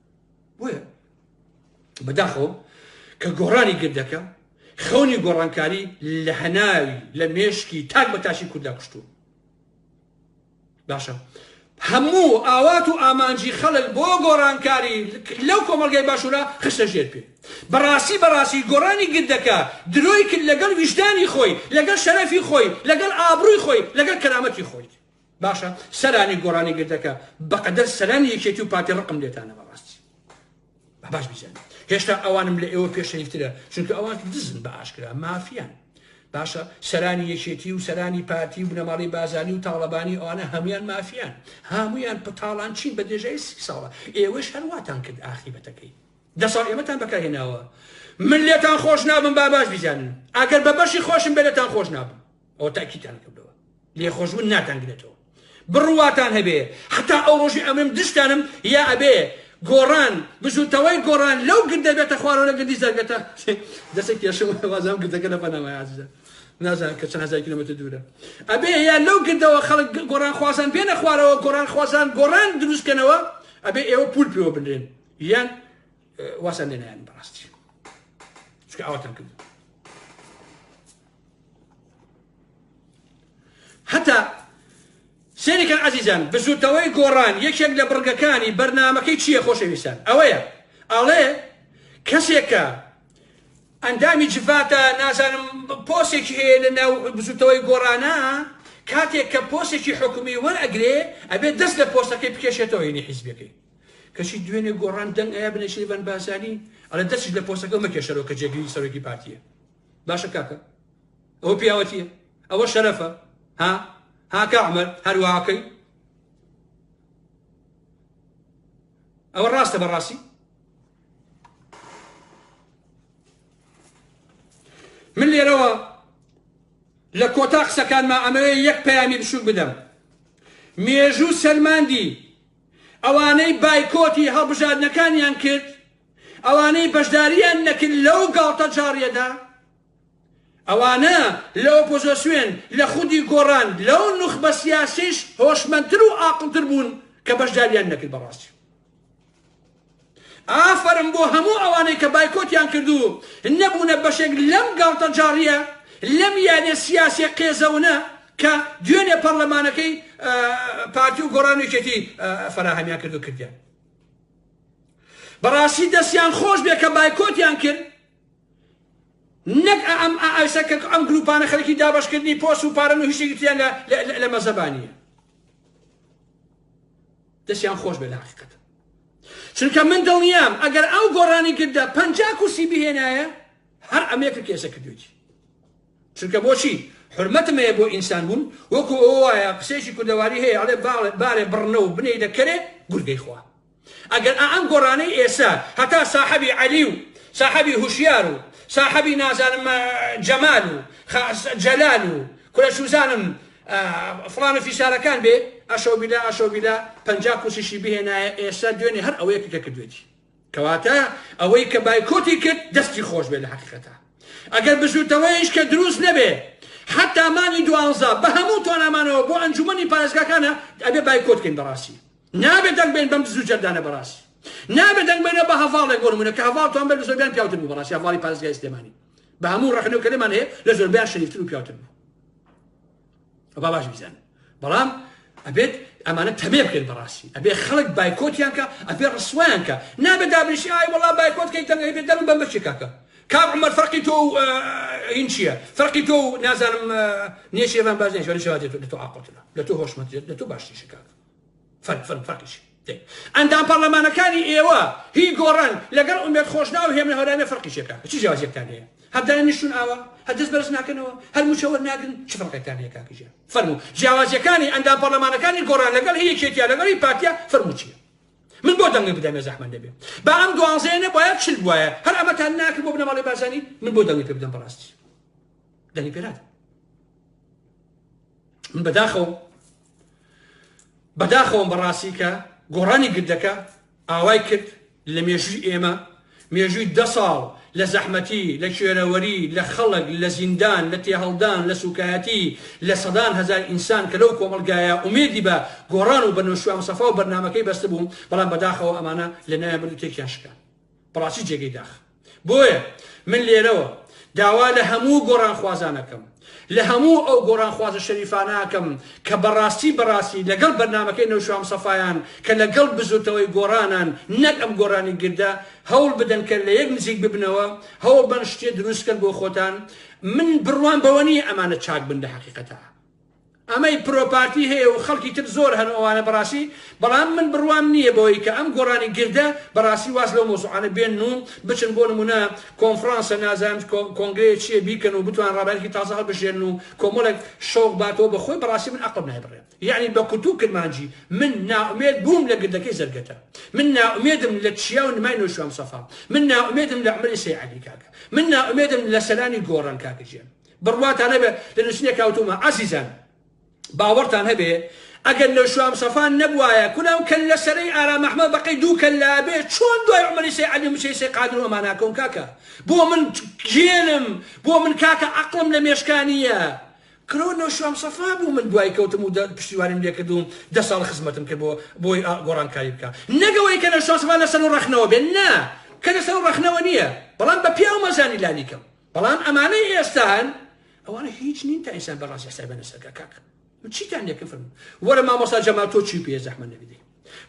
بۆیە بەداخەوە کە گۆڕانی گردەکە خەونی گۆڕانکاری لە هەناوی لە مێشکی تاک بە تاشی کورددا کوشتووە باشە هەموو ئاوات و ئامانجی خەڵک بۆ گۆڕانکاری لەو کۆمەلگای باشوورە خشتە ژێر پێ بەڕاستی بەڕاستی گۆڕانی گردەکە درۆی کرد لەگەڵ ویژدانی خۆی لەگەڵ شەرەفی خۆی لەگەڵ ئابرووی خۆی لەگەڵ کەرامەتی خۆی باشە سەرانی گۆرانی گردەکە بەقەدەر سەرانی یەکێتی و پارتی ڕقم لێتانە بەڕاستی باش بزان هێشتا ئەوانم لە ئێوە پێشەیفترە چونکە ئەوان دزن بە ئاشکرا مافیان باشە سەرانی یەکێتی و سەرانی پارتی و بنەماڵی بازانی و تاڵەبانی ئەوانە هەمویان مافیان هەمویان پتاڵان چین بە دێژای سی ساڵە ئێوەش هەرواتان کرد ئاخی بەتەکەی دە ساڵ ئێمەتان بەکارهێناوە من لێتان خۆش نابم با باش بزانن ئەگەر بە بەشی خۆشم بێتان خۆش نابم ئەوە تاکیتان کردەوە لێخۆشبوون ناتان گرێتەوە بڕواتان هەبێ حتا ئەو ڕۆژی ئەمرم دشتانم یا ئەبێ گۆڕان بزوتەوەی گۆڕان لەو گردە بێتە خوارەوە لە گردی زەرگەتە دەسێک کێشم وازام گردەکە لە بەنامای عزیزە نازان کە چەند هزار کیلومتر دوورە ئەبێ یا لەو گردەوە خەڵک گۆڕان خوازان بێنە خوارەوە گۆڕان خوازان گۆڕان دروستکەنەوە ئەبێ ئێوە پول پێوە بنرێن یان واسان لێنیان بەڕاستی چکە ئاواتان کرد هەتا سێریکەن عزیزان بزوتەوەی گۆڕان یەکێک لە بڕگەکانی بەرنمەکەی چییە خۆشەویستان ئەوەیە ئەڵێ کەسێکە ئەندامی جڤاتە نازانم پۆسێکی هەیە لە ناو بزوتەوەی گۆڕانە کاتێک کە پۆسێکی حکومی وەرئەگرێ ئەبێت دەست لە پۆستەکەی بکێشێتەوە ینی حیزبەکەی کەچی دوێنێ گۆڕان دەنگ ئەیە بنەشیبان باسانی ئەلە دەستش لە پۆستەکە مەکێشەرەوە کە جێگری سەرۆکی پارتیە باشە کاکە ئەوە پیاوەتیە ئەوە شەرەفە ها هاکە عمر هەرواکەی ئەوە ڕاستە بەڕاستی من لێرەوە لە کۆتا قسەکانما ئەمەوێ یەک پەیامی بچوک بدەم مێژوو سەلماندی ئەوانەی بایکۆتی هەڵبژاردنەکانیان کرد ئەوانەی بەشدارییان نەکرد لەو گاڵتەجاڕییەدا، ئەوانە لە ئۆپۆزۆسیۆن، لە خودی گۆڕان، لەو نوخبە سیاسیەیش هۆشمەندتر و ئاقڵتر بوون کە بەشدارییان نەکرد بە ڕاستی. ئافەرم بۆ هەموو ئەوانەی کە بایکۆتیان کرد و نەبوونە بەشێک لەم گاڵتەجاڕییە، لەم یاریە سیاسیە قێزەونە کە دوێنێ پەڕلەمانەکەی پارتی و گۆڕان و یەکێتی فەراهەمیان کرد و کردیان. بەڕاستی دەستیان خۆش بێ کە بایکۆتیان کرد نەک ئەم ئایسە کە ئەم گروپانە خەرکی دابشکردنی پۆس و پارن و هیچێکی تیان لە مەزەبانیە دەستیان خۆش بێ لە حقیقەت چونکە من دڵنیام ئەگەر ئەو گۆڕانی کردە پەنج کورسی بهێنایە هەر ئەمێکە کێسە کردوێتی چونکە بۆچی؟ حورمەتم هەیە بۆ ئینسان بوون، وەکو ئەوە وایە قسەیەکی کوردەواری هەیە ئەڵێ بارێ بڕنە و بنێیدە کەرێ گورگەی خوا. ئەگەر ئائەم گۆرانەی ئێستا هەتا ساحەبی عەلی و ساحەبی هوشیار و ساحەبی نازانم جەمال و جەلال و کورە چوزانم فڵان و فیسارەکان بێ ئەشەوبیلا ئەشەوبیلا پەنجا کورسیشی بهێنایە ئێستا دوێنێ هەر ئەوەیە کە کردوێتی. کەواتە ئەوەی کە بایکۆتی کرد دەستی خۆش بێ لە حقیقەتە ئەگەر بزوتەوەیش کە دروست نەبێ حتا مانی دوانزە بە هەموو تۆنامانەوە بۆ ئەنجومنی پارێزگاکانە ئەبێ بایکۆتکەین بەڕاستی نابێت دەنگ بێن بەم بزو جەردانە بەڕاستی نابێت دەنگ بێنە بە هەواڵێک بۆ نمونە کە هەواڵتان بەر زۆربیان پیاوتر بوو بەڕاستی هەواڵی پارێزگای سلێمانی بە هەموو ڕەخنەکەمان هەیە لە زۆربیان شریفتر و پیاوتر بوو با باش بیزانن بەڵام ئەبێت ئەمانە تەمێ بکەن بەڕاستی ئەبێ خەڵک بایکۆتیان کە ئەبێ ڕسویان کە نابێ دابنیشی ئای وڵا بایکۆت کەی تەنگەی بێت دەرم بەم بچی کاکە کاک عمر فەرقی تۆ این چییە فەرقی تۆ نازانم نێشێوان باز نێشوان شوادێت لە تۆ ئاقۆتە لە تۆ هۆشمەندێت لە تۆ باشتیشە کاک فەرق فەرق فەرقیشی ئەندام پەڕلەمانەکانی ئێوە هی گۆڕن لەگەڵ ئومێد خۆشناو هێمن هەورامی فەرقی چێکا چ جیاوازیەکتان هەیە هەر دانیشتون ئاوا هەر دەست بەرز ناکەنەوە هەر موچە وەرناگرن چ فەرقێکتان هەیە کاک ژیار فەرموو جیاوازیەکانی ئەندام پەڕلەمانەکانی گۆڕان لەگەڵ هی یەکێتیا لەگەڵ هی پارتیا فەرموو چیە من بۆ دەنگی بدەمێ زەحمەت نەبێ با ئەم دوانزەیە نەبوایە چل بوایە هەر ئەمەتان ناکرد بۆ بنەماڵەی بارزانی من بۆ دەنگی پێ بدەم بەڕاستی دەنگی پێنات من بەداخەوە بەداخەوەم بەڕاستی کە گۆڕانی گردەکە ئاوای کرد لە مێژووی ئێمە مێژووی دە ساڵ لە زەحمەتی لە کوێرەوەری لە خەڵک لە زیندان لە تێهەڵدان لە سوکایەتی لە سەدان هزار ئینسان کە لەو کۆمەلگایە ئومێدی بە گۆڕان و بە نوشوام سەفا و بەرنمەکەی بەستبووم بەڵام بەداخەوە ئەمانە لە نایە بردو تێکیان شکان بەڕاستی جێگەی داخە بۆیە من لێرەوە داوا لە هەموو گۆڕانخوازان ئەکەم، لە هەموو ئەو گۆڕانخوازە شەریفانە ئەکەم کە بەڕاستی بەڕاستی لەگەڵ بەرنامەکەی نەوشام سەفایان کە لەگەڵ بزوتنەوەی گۆڕانن نەک ئەم گۆڕانی گردە، هەوڵ بدەن کە لە یەک نزیک ببنەوە، هەوڵ بەن شتێ دروست کەن بۆ خۆتان، من بڕوام بەوە نییە ئەمانە چاک بن لە هەقیقەتا. ئەمەی پرۆ پارتی هەیە و خەڵکی تر زۆر هەن ئەوانە بەڕاستی بەڵام من بڕوام نییە بەوەی کە ئەم گۆڕانی گردە بەڕاستی واز لەو مەوزوعانە بێنن و بچن بۆ نموونە کۆنفڕانسە نازانم کۆنگرەیە چییە بیکەن و بتوان ڕابەرێکی تازە هەڵبژێرن و کۆمەڵێک شەوق باتەوە بە خۆی بەڕاستی من ئەقڵم نای بڕێ یەعنی بە کوتوو کرمانجی من نائومێد بووم لە گردەکەی زەرگەتە من نائومێدم لە چیا و نمای نۆشیروان مستەفا من نائومێدم لە عومەری سەی عەلی کاکە من نائومێدم لە سەلانی گۆڕان کاکە جیان بڕواتان هەبێ لە نووسینێک هاوتوومە ئازیزان باوەڕتان هەبێ ئەگەر لە شوام سەفان نەبوایە کوناو کەل لە سەرەی ئارام ئەحمە بەقەی دوو کەل لابێ چۆن دوای عمری سەی عەلی مچەی سەی قادر و ئەمانە کۆم کاکە بۆ من گێلم بۆ من کاکە عەقڵم لە مێشکانیە کرۆ لە شوام سەفا بوو من دوای کەوتم و پشتیوانیم لێکردوم دە ساڵ خزمەتم کرد بۆ بۆی گۆڕانکاری بکە نەگەوەی کە لە شوام سەفا لەسەر و ڕەخنەوە بێ نا کە لەسەر و ڕەخنەوە نییە بەڵام بە پیاو مەزانی لانیکەم بەڵام ئەمانەی ئێستا هەن ئەوانە هیچ نین تا ئینسان بەڕاستی حسای بە نەسەکە کاک من چیتان لێکە فرم وەرە مامۆستا جەمال تۆ چی پێ زەحمە نەبیدەی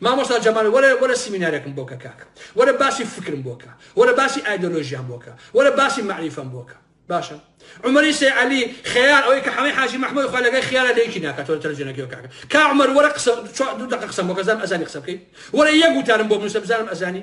مامۆستا جەمال وەرە وەرە سیمینارێکم بۆکە کاک وەرە باسی فکرم بۆکە وەرە باسی ئایدۆلۆژیان بۆکە وەرە باسی معریفەم بۆکە باشە عمری سێ علی خیار ئەوەی کە حەمەی حاجی محمود خۆ لەگەی خیارە لەیکی ناکاتەوە تەلەجێنەکەی کاکە کا عمر وەرە قسە دوو دقە قسەم بۆکە زانم ئەزانی قسە بکەی وەرە یەک وتارم بۆ بنووسە بزانم ئەزانی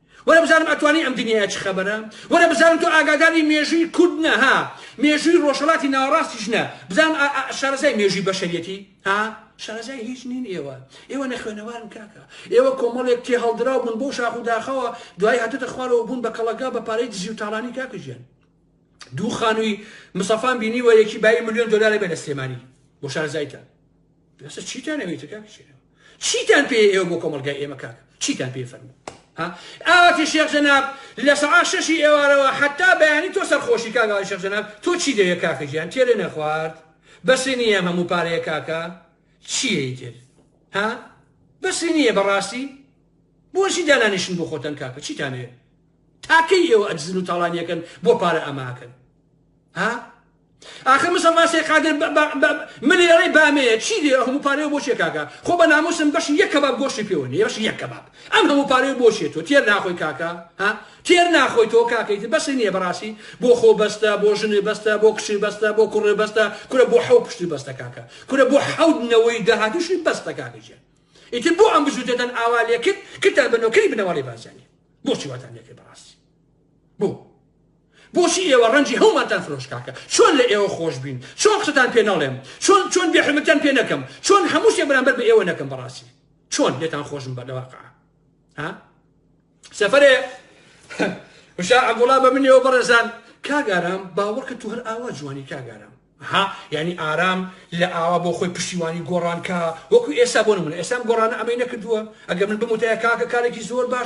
وەرە بزانم ئەتوانی ئەم دنیایە چ خەبەرە وەرە بزانم تۆ ئاگاداری مێژووی کورد نە ها مێژووی ڕۆژهەڵاتی ناوەڕاستیش نە بزانم ئا ئا شارەزای مێژووی بەشەریەتی ها شارەزای هیچ نین ئێوە ئێوە نەخوێنەوارن کاکە ئێوە کۆمەڵێک تێ هەڵدراو بوون بۆ شاخ و داخەوە دوای هاتوتە خوارەوە بوون بە کەڵەگا بە پارەی دزی و تاڵانی کاکە ژیان دوو خانووی مسەفان بینی وە یەکی بایی ملیۆن دلار بێ لە سلێمانی بۆ شارەزایتە بەسە چیتان ئەوێتە کاک شێرم چیتان پێ ئێوە بۆ کۆمەلگای ئێمە کاک چیتان پێ فەرمو ئاواتی شێخ جەناب لە سەعا شەشی ئێوارەوە حتا بەیانی تۆ سەرخۆشی کاگاوای شێخ جەناب تۆ چی دەوێت کاکە گیان تێرێ نەخوارد بەسی نییە هەموو پارەیە کاکە چیەی تر ها بەسی نییە بەڕاستی بۆشی دانانیشن بۆ خۆتەن کاکە چیتانێ تاکەی ئێوە ئەدزن و تاڵانیەکەن بۆ پارە ئەماکەن ها ئاخر مسەفا سێ قادر ملی ئەڵێ بامەیە چی لێ هەموو پارەیە بۆ چێ کاکە خۆ بە ناموسم بەش یەک کەباب گۆشتی پێوە نیە بەش یەک کەباب ئەم هەموو پارەیە بۆ چێت تۆ تێر ناخۆی کاکە ها تێر ناخۆی تۆ کاکەیت بەس نییە بەڕاستی بۆ خۆ بەستە بۆ ژنێ بەستە بۆ کچی بەستە بۆ کوڕێ بەستە کورە بۆ حەو پشتی بەستە کاکە کورە بۆ حەوت نەوەی داهاتوشی بەستە کاکەجێ ئیتر بۆ ئەم بزوتێتەن ئاوا لێکرد کتان بە نۆکەری بنەوەڵی بازانی بۆچی واتان لێکرد بەڕاستی بۆ بۆچی ئێوە ڕەنجی هەومانتان فرۆشت کاکە چۆن لە ئێوە خۆش بین چۆن قسەتان پێ نەڵێم چۆن چۆن بێ حورمەتیان پێ نەکەم چۆن هەموو شتێ بەرامبەر بە ئێوە نەکەم بەڕاستی چۆن لێتان خۆشم بە لەواقع ها سەفرێ وشا عبدوڵا بە منەوە بەڕێزان کاگارام باوەڕکە تو هەر ئاوا جوانی کاگارام ها یعنی ئارام لە ئاوا بۆ خۆی پشتیوانی گۆڕانکە وەکو ئێستا بۆ من ئێسام گۆڕانە ئەمەی نەکردووە ئەگە من بموتەیە کاکە کارێکی زۆر باش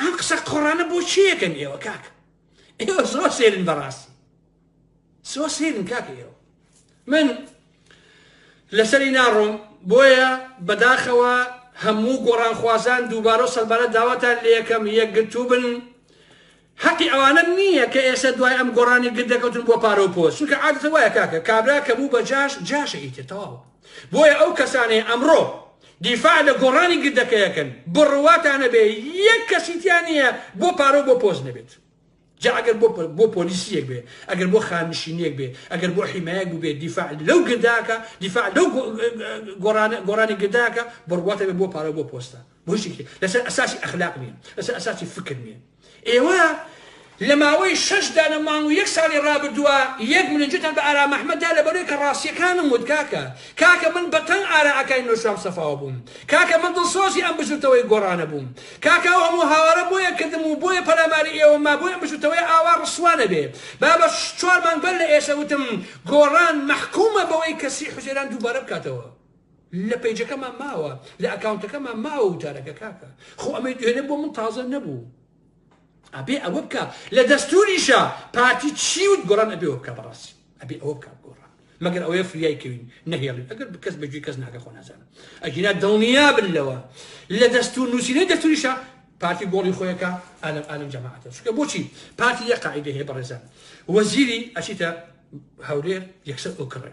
ئەم قسە قۆڕانە بۆ چی یەکەن ئێوە کاک ئێوە زۆر سێرن بەڕاستی زۆر سێرن کاک ئێوە من لەسەری ناڕۆم بۆیە بەداخەوە هەموو گۆڕانخوازان دووبارە و سەلبارە داواتان لە یەکەم یەکگرتوو بن هەقی ئەوانە نییە کە ئێستا دوای ئەم گۆڕانی گر دەکەوتن بۆ پارە و پۆست چونکە عادەتەن وایە کاکە کابرا کە بوو بە جاش جاشە ئیتر تەواو بۆیە ئەو کەسانەی ئەمڕۆ دیفاع لە گۆڕانی گر دەکەیەکەن بڕواتانە بێ یەک کەسی تیا نییە بۆ پارە و بۆ پۆست نەبێت جا ئەگەر بۆ بۆ پۆلیسیەک بێ ئەگەر بۆ خانشینیەک بێ ئەگەر بۆ حیمایەک بوو بێ دیفاع لەو گرداکە دیفاع لەو گۆڕانە گۆڕانی گرداکە بڕواتە بێ بۆ پارە بۆ پۆستە بۆ شتێکی لەسەر ئەساسی ئەخلاق نییە لەسەر ئەساسی فکر نییە ئێوە لە ماوەی شەش دانە مانگ و یەک ساڵی ڕابردووە یەک ملنجتان بە ئارام ئەحمەد دا لەبەرەوەی کە ڕاستیەکانم وت کاکە کاکە من بە تەنگ ئارا ئاکای نۆشاوم سەفاوە بووم کاکە من دڵسۆزی ئەم بزوتەوەی گۆڕانە بووم کاکە ئەو هەموو هاوارە بۆیە کردم و بۆیە پەلاماری ئێوەم ما بۆی ئەم بزوتەوەیە ئاوا ڕسوا نەبێ با بە چوار مانگ بەر لە ئێسە وتم گۆڕان مەحکومە بەوەی کە سی حوزەیران دووبارە بکاتەوە لە پەیجەکەمان ماوە لە ئەکاونتەکەمان ماوە وتارەکە کاکە خۆ ئەمەی دوێنێ بۆ من تازە نەبوو ئەبێ ئەوە بکە لە دەستوریشە پارتی چیوت گۆڕان ئەبێ بکە بەڕاستی ئەبێ ئەوە بکە گۆڕان مەگەر ئەوەیە فریای کەوین نەهێڵین ئەگەر بکەس بەگوێ کەس ناگە خۆ نازانم ئەگینا دڵنیا بن لەوە لە دەستور نووسینەی دەستوریشە پارتی گۆڵی خۆیەکە ئالم ئالم جەماعەتە چکە بۆچی پارتی یە قاعدە هەیە بەڕێزان وەزیری ئەچیتە هەولێر یەکسەر ئۆکڕێ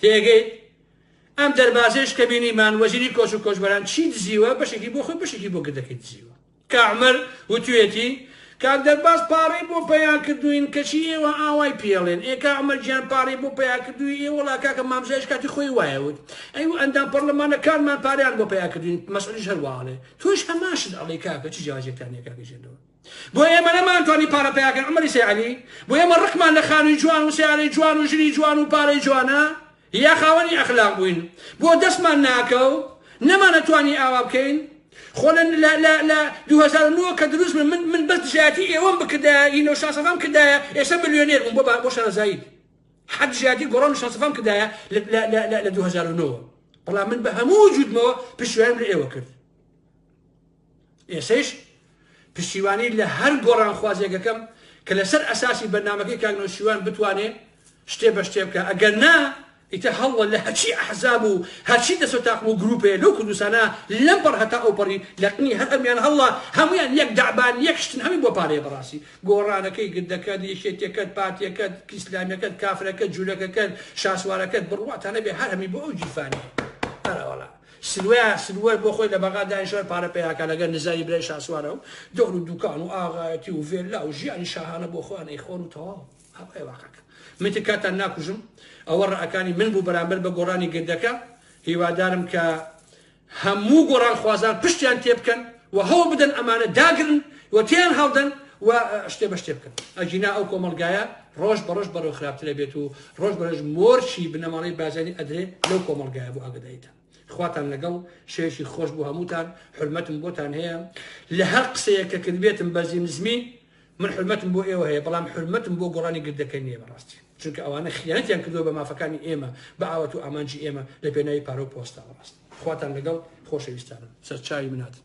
تێگەیت؟ ئەم دەربازەیش کە بینیمان وەزیری کۆچ و کۆچبەران چی دزیوە بەشێکی بۆ خۆی بەشێکی بۆ گردەکەی دزیوە. کا عومەر وتویەتی کاک دەرباز پاڕەی بۆ پەیا کردووین کەچی ئێوە ئاوای پێڵێن ئێ کا عومەر گیان پاڕەی بۆ پەیا کردووی ئێ وەڵا کاکە مامزایش کاتی خۆی وایە وت ئەی و ئەندام پەڕلەمانەکانمان پارەیان بۆ پەیا کردووین مەسعودیش هەروا ئەڵێ تۆش هەمان شت ئەڵێی کاکە چ جیاوازیەکتان هەیە کاکە ژێندەوە بۆ ئێمە نەمانتوانی پارە پەیاکەین عومەری سەی عەلی بۆ ئێمە ڕقمان لە خانووی جوان و سیارەی جوان و ژنی جوان و پارەی جوانە یا خاوەنی ئەخلاق بووین بۆ دەستمان ناکەو نەمانەتوانی ئاوا بکەین خۆ لە لە لە لە 2009 کە دروست من من بەس دژایەتی ئێوەم بکردایە ئی نەو شاسەفام کردایە ئێستا ملیۆنێر بووم بۆ با بۆ شارەزایی حەد دژایەتی گۆڕان و شاسەفام کردایە لە 2009 بەڵام من بە هەموو وجودمەوە پشتیوانیم لە ئێوە کرد ئێسەیش پشتیوانی لە هەر گۆڕانخوازێک ئەکەم کە لەسەر ئەساسی بەرنامەکەی کاک نەوشیروان بتوانێ شتێ بە شتێ بکا ئەگەر نا ئیتر هەڵڵە لە هەرچی ئەحزاب و هەرچی دەسەو تاقم و گروپێ لەو کوردستانە لەم پەڕ هەتا ئەو پەڕی لەقنی هەر ئەمیان هەڵڵە هەمویان یەک دەعبان یەک شتن هەمی بۆ پارەیە بەڕاسی گۆڕانەکەی گردەکەت یەکێتیەکەت پارتیەکەت ئیسلامیەکەت کافرەکەت جولەکەکەت شاسوارەکەت بڕواتان نەبێ هەر هەمی بۆ ئەو گیرفانە ئەرەوەڵا. سروە سروەش بۆ خۆی لە بەغا دانیشتوە پارە پەیا کە لەگەر نزاری برای شاسوارە و دەور و دوکان و ئاغایەتی و ڤێللا و ژیانی شاهانە بۆ خۆیان ئەیخۆن و تەواو ئەوەیە واقعەکە من تر کاتان ناکوژم ئەوە ڕەئەکانی من بوو بەرامبەر بە گۆڕانی گردەکە هیوادارم کە هەموو گۆڕانخوازان پشتیان تێبکەن و هەوڵ بدەن ئەمانە داگرن و تێیان هەڵدەن و شتێ بە شتێ بکەن ئەگینا ئەو کۆمەڵگایە ڕۆژ بە ڕۆژ بەرەو خراپترە بێت و ڕۆژ بەرەژ مۆرچی بنەماڵی بازانی ئەدرێ لەو کۆمەڵگایە بۆ ئاگدایتان خواتان لەگەڵ شێشی خۆش بۆ هەمووتان حرمەتم بۆتان هەیە لە هەر قسەیە کە کردبێتم بەزی نزمی من حورمەتم بۆ ئێوە هەیە بەڵام حورمەتم بۆ گۆڕانی گردەکە نیە بەڕاستی چونکە ئەوانە خیانەتیان کردوە بە مافەکانی ئێمە بە ئاوات و ئامانجی ئێمە لە پێناوی پارە و پۆستە بەڕاستی خواتان لەگەڵ خۆشەویستانم سەرچاوی مناتن.